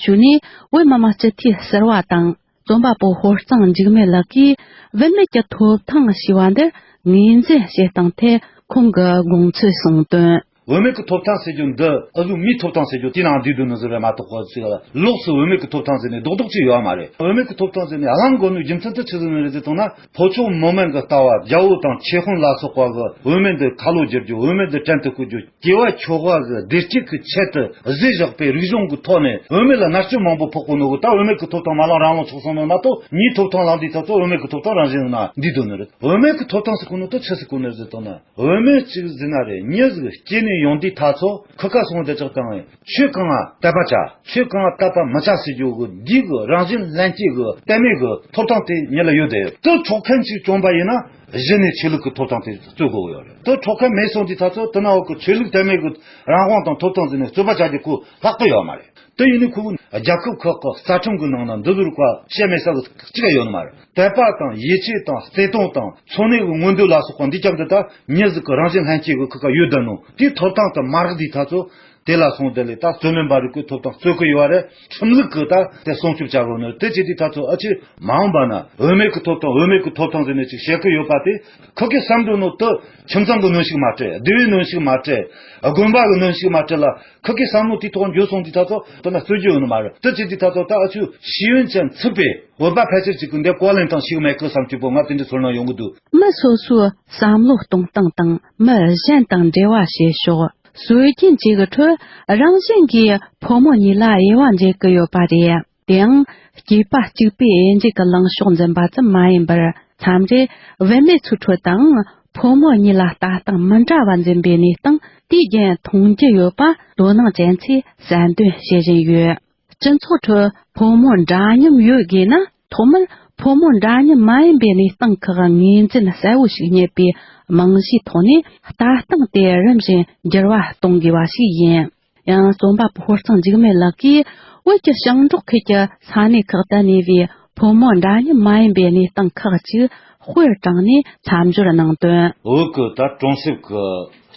ཞུ་ནི་བོད་མི་མང་སྤྱི་འཐུས་ཟེར་བ་དང་རྩོམ་པ་པོ་ཧོར་གཙང་འཇིགས་མེད་ལགས་ཀྱིས་བུད་མེད་ཀྱི་ཐོབ་ཐང་ཞེས་པ་འདི་ངོས་འཛིན་
བྱེད་སྟངས་ཐད་ཁོང་གི་དགོངས་ཚུལ་གསུངས་དོན། འོས་མེད་ཀྱི་ཐོབ་ཐང་ཟེར་རྒྱུ་འདི་ཨ་ཁུ་མིའི་ཐོབ་ཐང་ཟེར་རྒྱུ་དེ་ནང་བསྡུས་འདུག་ནི་ཟེར་བས་མ་གཏོགས་གོ་ཚེ་ལོགས་སུ་འོས་མེད་ཀྱི་ཐོབ་ཐང་ཟེར་ནས་རྡོག་རྡོག་ཅིག་ཡོད་མ་རེད་འོས་མེད་ཀྱི་ཐོབ་ཐང་ཟེར་ནས་གླང་མགོ་ནུའི་རྒྱུ་མཚན་དུ་ཆུ་ཟིན་ནི་རེད་ཅེས་གཏོང་ན་ཕོ་ཕྱོགས་མི་དམངས་ཀྱི་ལྟ་བ་རྒྱ་བོ་དང་ཆེ་ཧོན་ལ་སོགས་པ་གི་འོས་མེད་འདི་ཁ་ལོ་བསྒྱུར་རྒྱུ་འོས་མེད་འདི་བྲན་དུ་བཀོལ་རྒྱུ་སྐྱེ་བ་མཆོག་དབང་གི་བདེ་སྐྱིད་ཀྱི་ཆེད་དུ་གཟིགས་བཞག་པའི་རིག་གཞུང་གི་ཐོག་ནས་འོས་མེད་ལ་མནར་གཅོད་མང་པོ་ཕོག་པོ་ནི་འོ་ད་འོས་མེད་ཀྱི་ཐོབ་ཐང་མ་བླངས་རང་བླངས་ཆོག་གསུངས་ནི་མ་གཏོགས་མིའི་ཐོབ་ཐང་བླངས་དུས་ད་ཚོད་འོས་མེད་ཀྱི་ཐོབ་ཐང་རང་བཞིན་ནང་བསྡུས་འདུག་ནི་རེད་འོས་མེད་ཀྱི་ཐོབ་ཐང་ཟེར་ཁུངས་ནི་དུ་ཆུ་ཟེར་ཁུངས་ནི་རེད་ཟེར་གཏོང་ན། འོལ་མོའི་ཚིག་གཟིགས་ན་རེ་མྱི་གཟིགས་སྐྱེས་ནས་ཡོང་དུས་ཐག་ཚོ་ཁུ་ཁ་སོང་དེ་ཅག་དང་བས་ཆོས་གང་བལྟ་པ་བྱ་ཆོས་གང་བལྟ་པ་མི་བྱ་ཟེར་རྒྱུ་གི་འདིའི་གི་རང་བཞིན་ལྷན་སྐྱེས་གི་གཏད་མེད་གི་ཐོབ་ཐང་དེ་མྱི་ལ་ཡོད་དེ་དུ་འཕྲོག་མཁན་ཞིག་བྱུང་པ་ཡིན་ན་གཞི་ནས་ཆོས་ལུགས་གི་ཐོབ་ཐང་དེ་རྩོད་དགོས་གི་ཡོད་རེད་དུ་འཕྲོག་མཁན་མེད་སོང་དུས་ཐག་ཚོ་དུ་ནང་འོག་གི་ཆོས་ལུགས་གཏད་མེད་གི་རང་དབང་དང་ཐོབ་ཐང་བརྩིས་ནས་རྩོད་པ་བྱ་རྒྱུ་གུ་ལྷག་ཏུ་ཡོད་མ་རེད་དུ་ཡིན་ནའི་ཁུ་རྒྱལ་ཁབ་ཁག་གི་རྩ་ཁྲིམས་གི་ནང་ན་འདི་ཟུར་བཀའ་བཤད་མེད་ས་གི་གཅིག་ཡོད་ནི་མ་རེད། དད་པ་དང་ཡིད་ཆེས་དང་བརྩེ་དུང་དང་འཚོ་གནས་ཀྱི་མངོན་འདོད་ལ་སོགས་པ་འདི་ཅག་འདི་དག་ཉིད་གཟུགས་ཀྱི་རང་བཞིན་ལྷན་སྐྱེས་ཀྱི་ཁུ་ཁ་ཡོད་དོན་ནོ། དེའི་ཐོབ་ཐང་དུ་མ་རིག་འདི་དག་ཚོ། དེ་ལ་སོང་དེ་ལས་ད་རྩོད་མེད་འབའ་རིག་ཀུན་ཐོབ་དང་རྩོད་ཀྱི་ཡོད་བ་རེད་ཁྲིམས་ལུགས་ཀྱི་ད་དེ་སྲུང་སྐྱོབ་བྱ་དགོས་ནོ་དེ་ཅི་དེ་དག་ཚོ་ཨ་ཕྱི་མ་འོངས་པ་ན་འོས་མེད་ཀྱི་ཐོབ་དང་འོས་མེད་ཀྱི་ཐོབ་ཐང་ཟེར་ནས་ཅིག་བཤད་ཀྱི་ཡོད་པ་དེ་ཁོ་ཁས་བསམ་དགོས་ནོ་དུ་ཁྱིམ་ཚང་གི་གནོན་ཤུགས་མ་སྤྲད་སྡེ་བའི་གནོན་ཤུགས་མ་སྤྲད་དགོན་པ་གི་གནོན་ཤུགས་མ་སྤྲད་ལ། ཁག་གི་བསམ་བློ་དེ་ཐོག་འགྱོད་སོང་དེ་ཐག་ཐོག་དོ་ན་རྩོད་རྒྱུ་ཡོད་ནི་མ་རེད་དྲི་བཅས་དེ་ཐག་ཐོག་ད་ཨ་ཆུ་ཤེས་ཡོན་ཅན་ཚུད་པས་བོད་པ་ཕལ་ཆེར་གཅིག་གི་འདས་ཀོ་ལེན་སྟངས་ཤིག་མེད་གི་བསམ་སྤྱོད་པོ་ང་དེ་འདྲའི་ཚོར་སྣང་ཡོང་གི་འདུག། མི་སོ་སོའི་བསམ་བློ་གཏོང་སྟངས་དང་མི་གཞན་དང་འབྲེལ་བ་བྱེད་ཕྱོགས་སྲོལ་རྒྱུན་གཅིག་གི་ཁྲོད་རང་བཞིན་གྱིས་ཕོ་མོ་གཉིས་ལ་དབྱེ་བ་འབྱེད་ཀྱི་ཡོད་པ་རེད། དེའང། སྐྱེས་པ་གཅིག་པའི་
དབྱེ་འབྱེད་ཀྱི་ལངས་ཕྱོགས་འཛིན་པ་ཙམ་མ་ཡིན་པར་མཚམས་རེ་བུད་མེད་ཚུལ་འཕྲོད་དང་ཕོ་མོ་གཉིས་ལ་ལྟ་སྟངས་མི་འདྲ་བ་འཛིན་པའི་གནས་སྟངས་དུས་རྒྱུན་མཐོང་རྒྱུ་ཡོད་པ་དོ་སྣང་ཅན་ཚོས་གསལ་འདོན་བྱེད་བཞིན་ཡོད། སྤྱི་ཚོགས་ཁྲོད་ཕོ་མོ་འདྲ་མཉམ་ཡོད་དགོས་ན་ཐོག་མར་ཕོ་མོ་འདྲ་མཉམ་མ་ཡིན་པའི་གནས་སྟངས་ཁག་ངོས་འཛིན་གསལ་བོ་ཞིག་རྙེད་པའི་རྨང་གཞིའི་ཐོག་ནས་ལྟ་སྟངས་དེ་རིམ་བཞིན་འགྱུར་བ་གཏོང་དགོས་པ་ཞིག་ཡིན།
ཡང་རྩོམ་པ་པོ་ཧོར་གཙང་འཇིགས་མེད་ལགས་ཀྱིས་བོད་ཀྱི་ཞིང་འབྲོག་ཁུལ་གྱི་ས་གནས་ཁག་ཏུ་གནས་པའི་བུ་མོ་འདྲ་མཉམ་མ་ཡིན་པའི་གནས་སྟངས་ཁག་ཅིག་དཔེར་དྲངས་ནས་མཚམས་སྦྱོར་གནང་དོན། འོད་ཀྱི་ད་གྲོང་གསེབ་ཀྱི་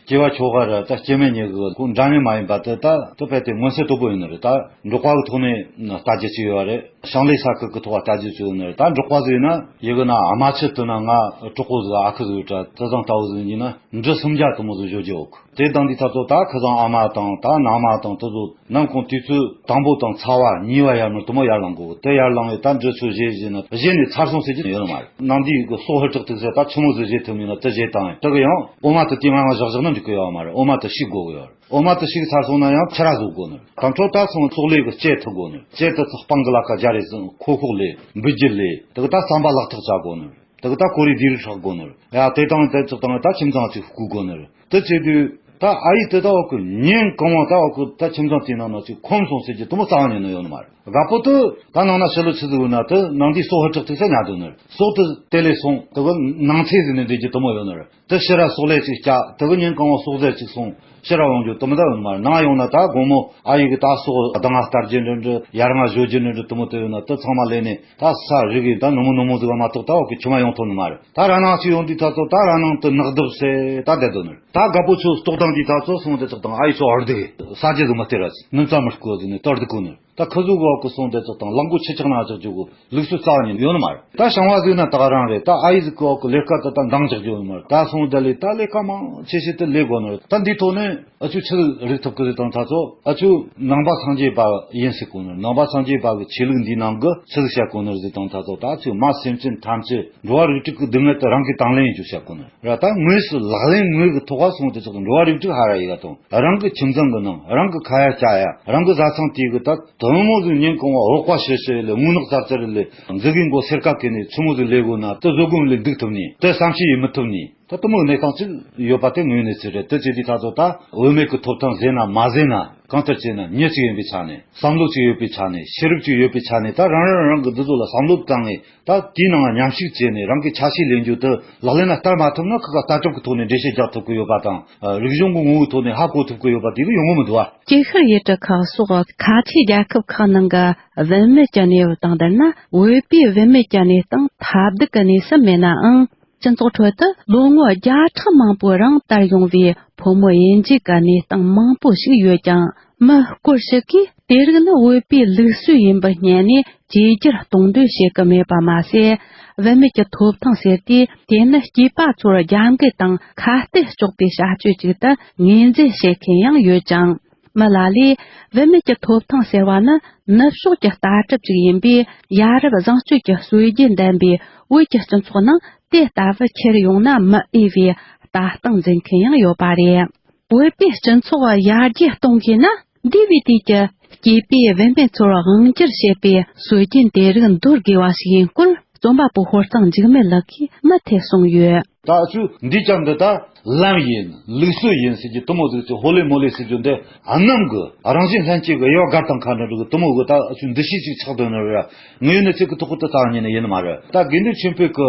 སྐྱེ་བ་ཆོ་ག་རེད་ད་སྐྱེ་མེད་གཉིས་ཀྱི་སྐུ་འདྲ་མཉམ་མ་ཡིན་པ་དེ་ད་དུ་དཔེ་དེབ་མངོན་གསལ་དོད་པོ་ཡོད་ནི་རེད་ད་འབྲོག་པ་གྱི་ཐོག་ནས་ལྟ་རྒྱུ་གཅིག་ཡོད་པ་རེད་ཞིང་ལས་ས་ཁུལ་གྱི་ཐོག་ལྟ་རྒྱུ་གཅིག་ཡོད་ནི་རེད་ད་འབྲོག་པ་ཟིག་ཡིན་ན། ཡི་གི་ན་ཨ་མ་ཆེ་དུ་ན་ང་གྲོགས་པོ་ཟིག་ཨ་ཁུ་ཟིག་ཡོད་དྲ་བཙང་ལྟ་བུ་ཟིག་ཡིན་ན་འབྲི་སུམ་བརྒྱ་དུ་མོ་ཟིག་བཞོ་རྒྱུ་ཨོ་ཁུ། དེ་དང་འདི་ད་ཚོ་ད་ཁི་ཚང་ཨ་མ་དང་ད་ནང་མ་དང་ད་ཚོ་ནམ་གུང་དུས་ཚོད་དང་པོ་དང་ཚ་བ་གཉིས་བ་ཡར་མར་དུ་མོ་ཡར་ལང་གོ་དེ་ཡར་ལང་བའི་ད་འདྲི་ཚོད་བཞེས་བཞེས་ན་བཞེས་ནས་ཚར་སོང་ཟེར་གྱི་ཡོད་ནི་མ་རེད་ནང་འདིའི་གི་སོག་ཧི་ཀྲག་ཐིག་ཟེར་ད་ཆུ་མོ་ཟེར་བཞེས་ཐུབ་མིན་ན་དེ་བཞེས་དང་ཡང་དེ་གི་ཡང་ཨོ་མ་ཏི་དེ་ང་ང་བཞག་བཞག་ན་འགྲིག་གི་ཡོད་མ་རེད་ཨོ་མ་ཏི་ཤིག་དགོ་གི་ཡོད་རེད་ཨོ་མ་ཏི་ཤིག་ཚར་སོང་ན་ཡང་ཁྱི་ར་བཟོ་དགོ་ནི་རེད་དང་ཁྲོ་ད་ཚང་སོག་ལས་གི་སྤྱད་ཐུབ་དགོ་ནི་རེད་སྤྱད་ད་ཚ་སྤང་གི་ལ་ཁ་རྒྱ་རེ་ཟིང་ཁོ་ཁོག་ལས་འབུད་རྒྱུ་ལས་དེ་གི་ད་བསམ་པ་བརླག་ཐག་བྱ་དགོ་ནི་རེད། ད་གི་ད་ཀོ་རི་འདིར་ཧྲག་གོ་ནོར་ཡ་དེ་དང་དེ་ཚོ་དང་ད་ཁྱིམ་ཚང་ཚིག་ཧུ་གོ་ནོར་དེ་ཚེ་དུས་ད་ཨ་ཡི་དེ་ད་བ་ཀུ་ཉན་གང་བ་ད་བ་ཀུ་ད་ཁྱིམ་ཚང་དེ་ནང་ན་ཚིག་ཁོམ་སོང་ཟེར་གྱི་དུ་མོ་ཙང་ཉོ་ནོ་ཡོ་ནོ་མ་ར་པོ་དུ་ད་ནང་ན་ཤི་ལོ་ཚིག་ཚིག་ཧུ་ན་དུ་ནང་དེ་སོ་ཧུ་ཁྲག་ཐིག་ས་ཉ་དུ་ནོར་སོག་དུ་དེ་ལས་སོང་དུ་གི་ནང་ཚེ་ཟིན་ནོ་འདོད་ཀྱི་དུ་མོ་ཡོ་ནོར། དེ་ཤེས་རབ་སོག་ལེ་ཅིག་སྐྱ་དེ་གི་ཉིན་གང་བ་སོག་ཟེར་ཅིག་སོང་ཤེས་རབ་དབང་གི་དུ་མ་ད་འོན་མར་ནང་ཡོང་ན་ད་དགོང་མོ་ཨ་ཡིག་གི་ད་སོག་ཟླ་ལྔ་སྟར་རྗེས་འགྲོན་འགྲོ་ཡར་ལྔ་བཞོ་རྗེས་འགྲོན་འགྲོ་དུ་མོ་དེ་ཡོད་ན་དེ་ཚང་མ་ལས་ནས་ད་ས་རིག་གི་ད་ནུ་མོ་ནུ་མོ་ཟིག་བ་མ་གཏོགས་ད་འོག་གི་ཆུ་མ་ཡོང་ཐུབ་ནི་མ་རེད་ད་ར་ནང་ཅིག་ཡོང་དུས་ད་ཚོ་ད་ར་ནང་དུ་ནག་དུབ་སེ་ད་བསྡད་དུ་ནི་ད་དགའ་པོ་ཆུ་གཏོགས་དང་དུས་ད་ཚོ་སོང་དེ་ཚོགས་དང་ཨ་ཡིག་སོག་ཨར་དུ་གི་ས་རྗེས་དུ་མ་སྟེར་ར་ཅིག་མི་མཚམས་མི་བསྐོ་ཟིག་ནི་ཏར་དུ་གོ་ནི། ད་ཁ་ཟུར་བ་ཀུ་སོང་དེ་ཚོ་དང་གླང་པོ་ཆེ་ཆག་ན་ཆག་རྒྱུ་གུ་ལུག་སུ་རྩ་ནས་ཡོད་ནི་མ་རེད་ད་ཞང་བ་ཟིག་ན་ད་རང་རེད་ད་ཨ་ཡི་ཟིག་གོ་གུ་ལེ་ཀ་ད་ད་འདང་ཆག་རྒྱུ་ཡོད་ནི་མ་རེད་ད་སོང་ད་ལི་ད་ལེ་ཀ་མང་ཆེ་ཤེས་ཏི་ལེ་དགོ་ནི་རེད་ད་འདིའི་ཐོག་ནས་ཨ་ཆུ་ཆི་རིག་ཐུབ་གི་རེད་དང་ད་ཚོ་ཨ་ཆུ་ནང་པ་སངས་རྒྱས་པ་ཡིན་སི་གོ་ནི་ནང་པ་སངས་རྒྱས་པ་གི་ཆོས་ལུགས་འདིའི་ནང་གི་ཆི་ཟིག་བྱ་གོ་ནི་རེད་དང་ད་ཚོ་ད་ཆུ་མ་སེམས་ཅན་ཐམས་ཅད་འགྲོ་བ་རིགས་དྲུག་གི་སྡུག་བསྔལ་དུ་རང་གིས་དང་ལེན་ཡིན་རྒྱུ་བྱ་གོ་ནི། ར་ལྟ་དངོས་སུ་ལག་ལེན་དངོས་ཀྱི་ཐོག་ཁ་སོང་སྟེ་ཚོགས་འདུ་འགྲོ་བ་རིགས་དྲུག་ཧ་ར་ཡི་ག་དང་རང་གི་ཁྱིམ་ཚང་གི་ནང་རང་གི་ཁ་ཡ་ལྕག་ཡ་རང་གི་བཟའ་ཚང་དེའི་གི་ད་དོན་མོ་ཟིག་ཉིན་གང་བ་འོག་པ་ཤི་ཤི་ལས་སྔུན་ནག་ཙར་ཙར་ལས་འཛི་གིས་མགོ་སེར་ཀ་ཀི་ནས་ཚུ་མོ་ཟིག་ལས་དགོས་ན་ད་བཟོད་སྒོམ་ལས་འདུག་ཐུབ་ནི་ད་བསམ་ཤེས་ཡི་མི་ཐུབ་ནི་ད་གཏུམ་མོའི་གནས་སྟངས་ཅིག་ཡོད་པ་དེ་ངོས་ནས་ཚེ་རེད་ད་བྱས་དུས་ད་ཚོ་ད་བོད་མེད་གི་ཐོབ་ཐང་ཟེར་ན་མ་ཟེར་ན་གང་ལྟར་བྱས་ན་མྱི་གཅིག་ཡིན་པའི་ཆ་ནས་བསམ་བློ་གཅིག་ཡོད་པའི་ཆ་ནས་ཤེས་རབ་གཅིག་ཡོད་པའི་ཆ་ནས་ད་རང་རང་རང་གི་འདི་ཚོ་ལ་བསམ་བློ་བཏང་ངེས། ད་དེའི་ནང་ཉམས་ཞིབ་བྱས་ནས་རང་གི་ཆ་ཤས་ལེན་རྒྱུ་དེ་ལག་ལེན་ལ་བསྟར་མ་ཐུབ་ན་ཁག་ཁག་ལྟ་སྐྱོང་གི་ཐོག་ནས་འགྲེལ་བཤད་རྒྱག་ཐུབ་ཀྱི་ཡོད་པ་དང། རིག་གཞུང་གི་ངོ་བོའི་ཐོག་ནས་ཧ་གོ་ཐུབ་ཀྱི་ཡོད་པ་དེ་གི་ཡོང་ངོ་མི་འདུག་ཨ། སྐྱེ་ཤར་ཡུལ་གྲུ་ཁག་
སོགས་ཁ་ཆེའི་རྒྱལ་ཁབ་ཁག་ནང་གི་བུད་མེད་ཀྱི་གནས་བབ་དང་བསྡུར་ན་བོད་པའི་བུད་མེད་ཀྱི་གནས་སྟངས་ཐ་དད་ཀྱི་གནས་སུ་མེད་ནའང། སྤྱི་ཚོགས་ཁྲོད་དུ་ལོ་ངོ་བརྒྱ་ཕྲག་མང་པོའི་རིང་དར་ཡོང་བའི་ཕོ་མོ་དབྱེ་འབྱེད་ཀྱི་གནས་སྟངས་མང་པོ་ཞིག་ཡོད་ཀྱང་མི་སྐོར་ཞིག་གིས། དེ་རིགས་ནི་བོད་པའི་ལུགས་སྲོལ་ཡིན་པར་བསྙད་ནས་བཅོས་བསྒྱུར་གཏོང་འདོད་བྱེད་ཀྱི་མེད་པ་མ་ཟད། བུད་མེད་ཀྱི་ཐོབ་ཐང་ཟེར་དུས་དེ་ནི་སྐྱེས་པ་ཚོར་རྒྱབ་འགལ་དང་ཁ་གཏད་གཅོག་པའི་བྱ་སྤྱོད་ཅིག་ཏུ་ངོས་འཛིན་བྱེད་མཁན་ཡང་ཡོད་ཅིང། མི་ལ་ལས། བུད་མེད་ཀྱི་ཐོབ་ཐང་ཟེར་བ་ནི་ནུབ་ཕྱོགས་ཀྱི་ལྟ་གྲུབ་ཅིག་ཡིན་པས་ཡ་རབས་བཟང་སྤྱོད་ཀྱི་སྲོལ་རྒྱུན་ལྡན་པའི་བོད་ཀྱི་སྤྱི་ཚོགས་ནང་དེ་ལྟ་བུ་འཁྱེར་ཡོང་ན་མི་འོས་པའི་ལྟ་སྟངས་འཛིན་མཁན་ཡང་ཡོད་པ་རེད། བོད་པའི་སྤྱི་ཚོགས་ཡར་རྒྱས་གཏོང་དགོས་ན། འདས་པའི་དུས་ཀྱི་སྐྱེས་པའི་དབེན་པའི་ཚོར་བ་དབང་བསྒྱུར་བྱེད་པའི་སྲོལ་རྒྱུན་དེ་རིགས་འདོར་དགོས་བ་ཞིག་ཡིན་སྐོར་རྩོམ་པ་པོ་ཧོར་གཙང་འཇིགས་མེད་ལགས་ཀྱིས་མུ་
མཐུད་གསུངས་ཡོད། ད་ཆུ་འདི་ཅག་འདི་དག་ལམ་ཡིན་ལུགས་སྲོལ་ཡིན་ཟེར་གྱི་དུ་མོ་གཟུགས་ཀྱི་ཧོ་ལེ་མོ་ལེ་ཟེར་རྒྱུ་འདི་གནམ་གི་རང་བཞིན་ལྷན་སྐྱེས་ཀྱི་གཡོ་སྒར་དང་མཁའ་འགྲོ་འགྲོ་གི་དུ་མོ་གིས་ད་ཆུ་འདི་ཤེས་ཅིག་ཆགས་དོན་ནི་རེད་ངའི་ནི་ཚིག་གི་ཐུགས་ཁུར་དུ་བཏང་ཉིད་ནི་ཡིན་ནི་མ་རེད་ད་དགེ་འདུན་ཆེན་བོད་ཀྱི་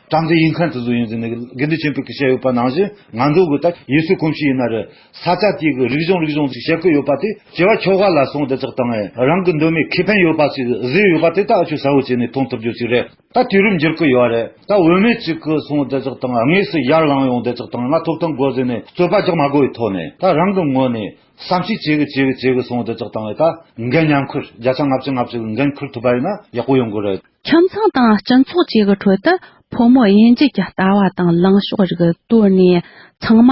བཀྲ་འཛི་ཡིན་ཁར་དུ་ཟུག་ཡིན་ཟི་ནི་གི་དགེ་འདུན་ཆེན་པོས་གི་བཤད་ཡོད་པ་ནང་བཞིན་ང་འདུག་གི་ད་ཡེ་སུའི་གོམས་གཤིས་ཡིན་ན་རི་ས་ཆ་དེའི་གི་རིག་གཞུང་རིག་གཞུང་ཅིག་བཤད་གི་ཡོད་པ་དེ་བྱེ་བ་ཁྱོ་ག་ལ་སོང་དེ་ཚག་དང་ཨེ་རང་གི་འདོད་མའི་ཁེ་ཕན་ཡོད་པ་ཞིག་ཟི་ཡོད་པ་དེ་ད་ཨ་ཆོས་ཟ་བོ་བྱས་ནས་མཐོང་ཐུབ་རྒྱུ་ཞིག་རེད་ད་དུས་རིམ་འགྱུར་གི་ཡོད་རེད་ད་འོས་མེད་ཅིག་གི་སོང་དེ་ཚག་དང་ངས་སུ་ཡར་ལངས་ཡོང་དེ་ཚག་དང་ང་ཐོབ་ཐང་དགོས་ཟི་ནི་རྩོད་པ་རྒྱག་མ་དགོས་ཡི་ཐོག་ནས་ད་རང་གི་ངོས་ནས་བསམ་ཤེས་བྱེད་གི་བྱེད་གི་བྱེད་གི་སོང་དེ་ཚག་དང་ཨེ་ད་འགན་མཉམ་འཁུར་བརྒྱ་ཆ་ལྔ་བཅུ་ལྔ་བཅུ་གི་འགན་འཁུར་ཐུབ་པ་ཡིན་ན་ཡག་པོ་ཡོང་གི་རེད། ཁྱིམ་ཚང་དང་སྤྱི་
ཚོགས་བཅས་ཀྱི་ཁྲོད་དུ་ཕོ་མོ་དབྱེ་འབྱེད་ཀྱི་ལྟ་བ་དང་ལངས་ཕྱོགས་རིགས་བཏོད་ནས་ཚང་མ་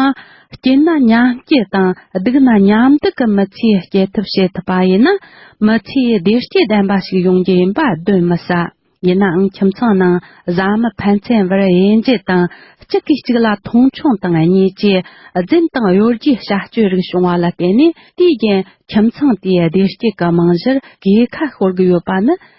སྐྱེས་ན་མཉམ་སྐྱེ་དང་སྡུག་ན་མཉམ་སྡུག་གི་མི་ཚེའི་སྐྱེལ་ཐབས་བྱེད་ཐུབ་པ་ཡིན་ན་མི་ཚེའི་བདེ་སྐྱིད་ལྡན་པ་ཞིག་ཡོང་རྒྱུ་ཡིན་པ་གདོན་མི་ཟ། ཡིན་ནའང་ཁྱིམ་ཚང་ནང་བཟའ་མི་ཕན་ཚན་བར་དབྱེ་འབྱེད་དང་གཅིག་གིས་གཅིག་ལ་མཐོང་ཆུང་དང་གཉིས་ཀྱིས་རྫུན་དང་གཡོ་སྒྱུའི་བྱ་སྤྱོད་རིགས་བྱུང་བ་ལ་བརྟེན་ནས་དུས་རྒྱུན་ཁྱིམ་ཚང་དེའི་བདེ་སྐྱིད་ཀྱི་རྨང་གཞིར་གས་ཁ་ཤོར་གྱི་ཡོད་པ་ནི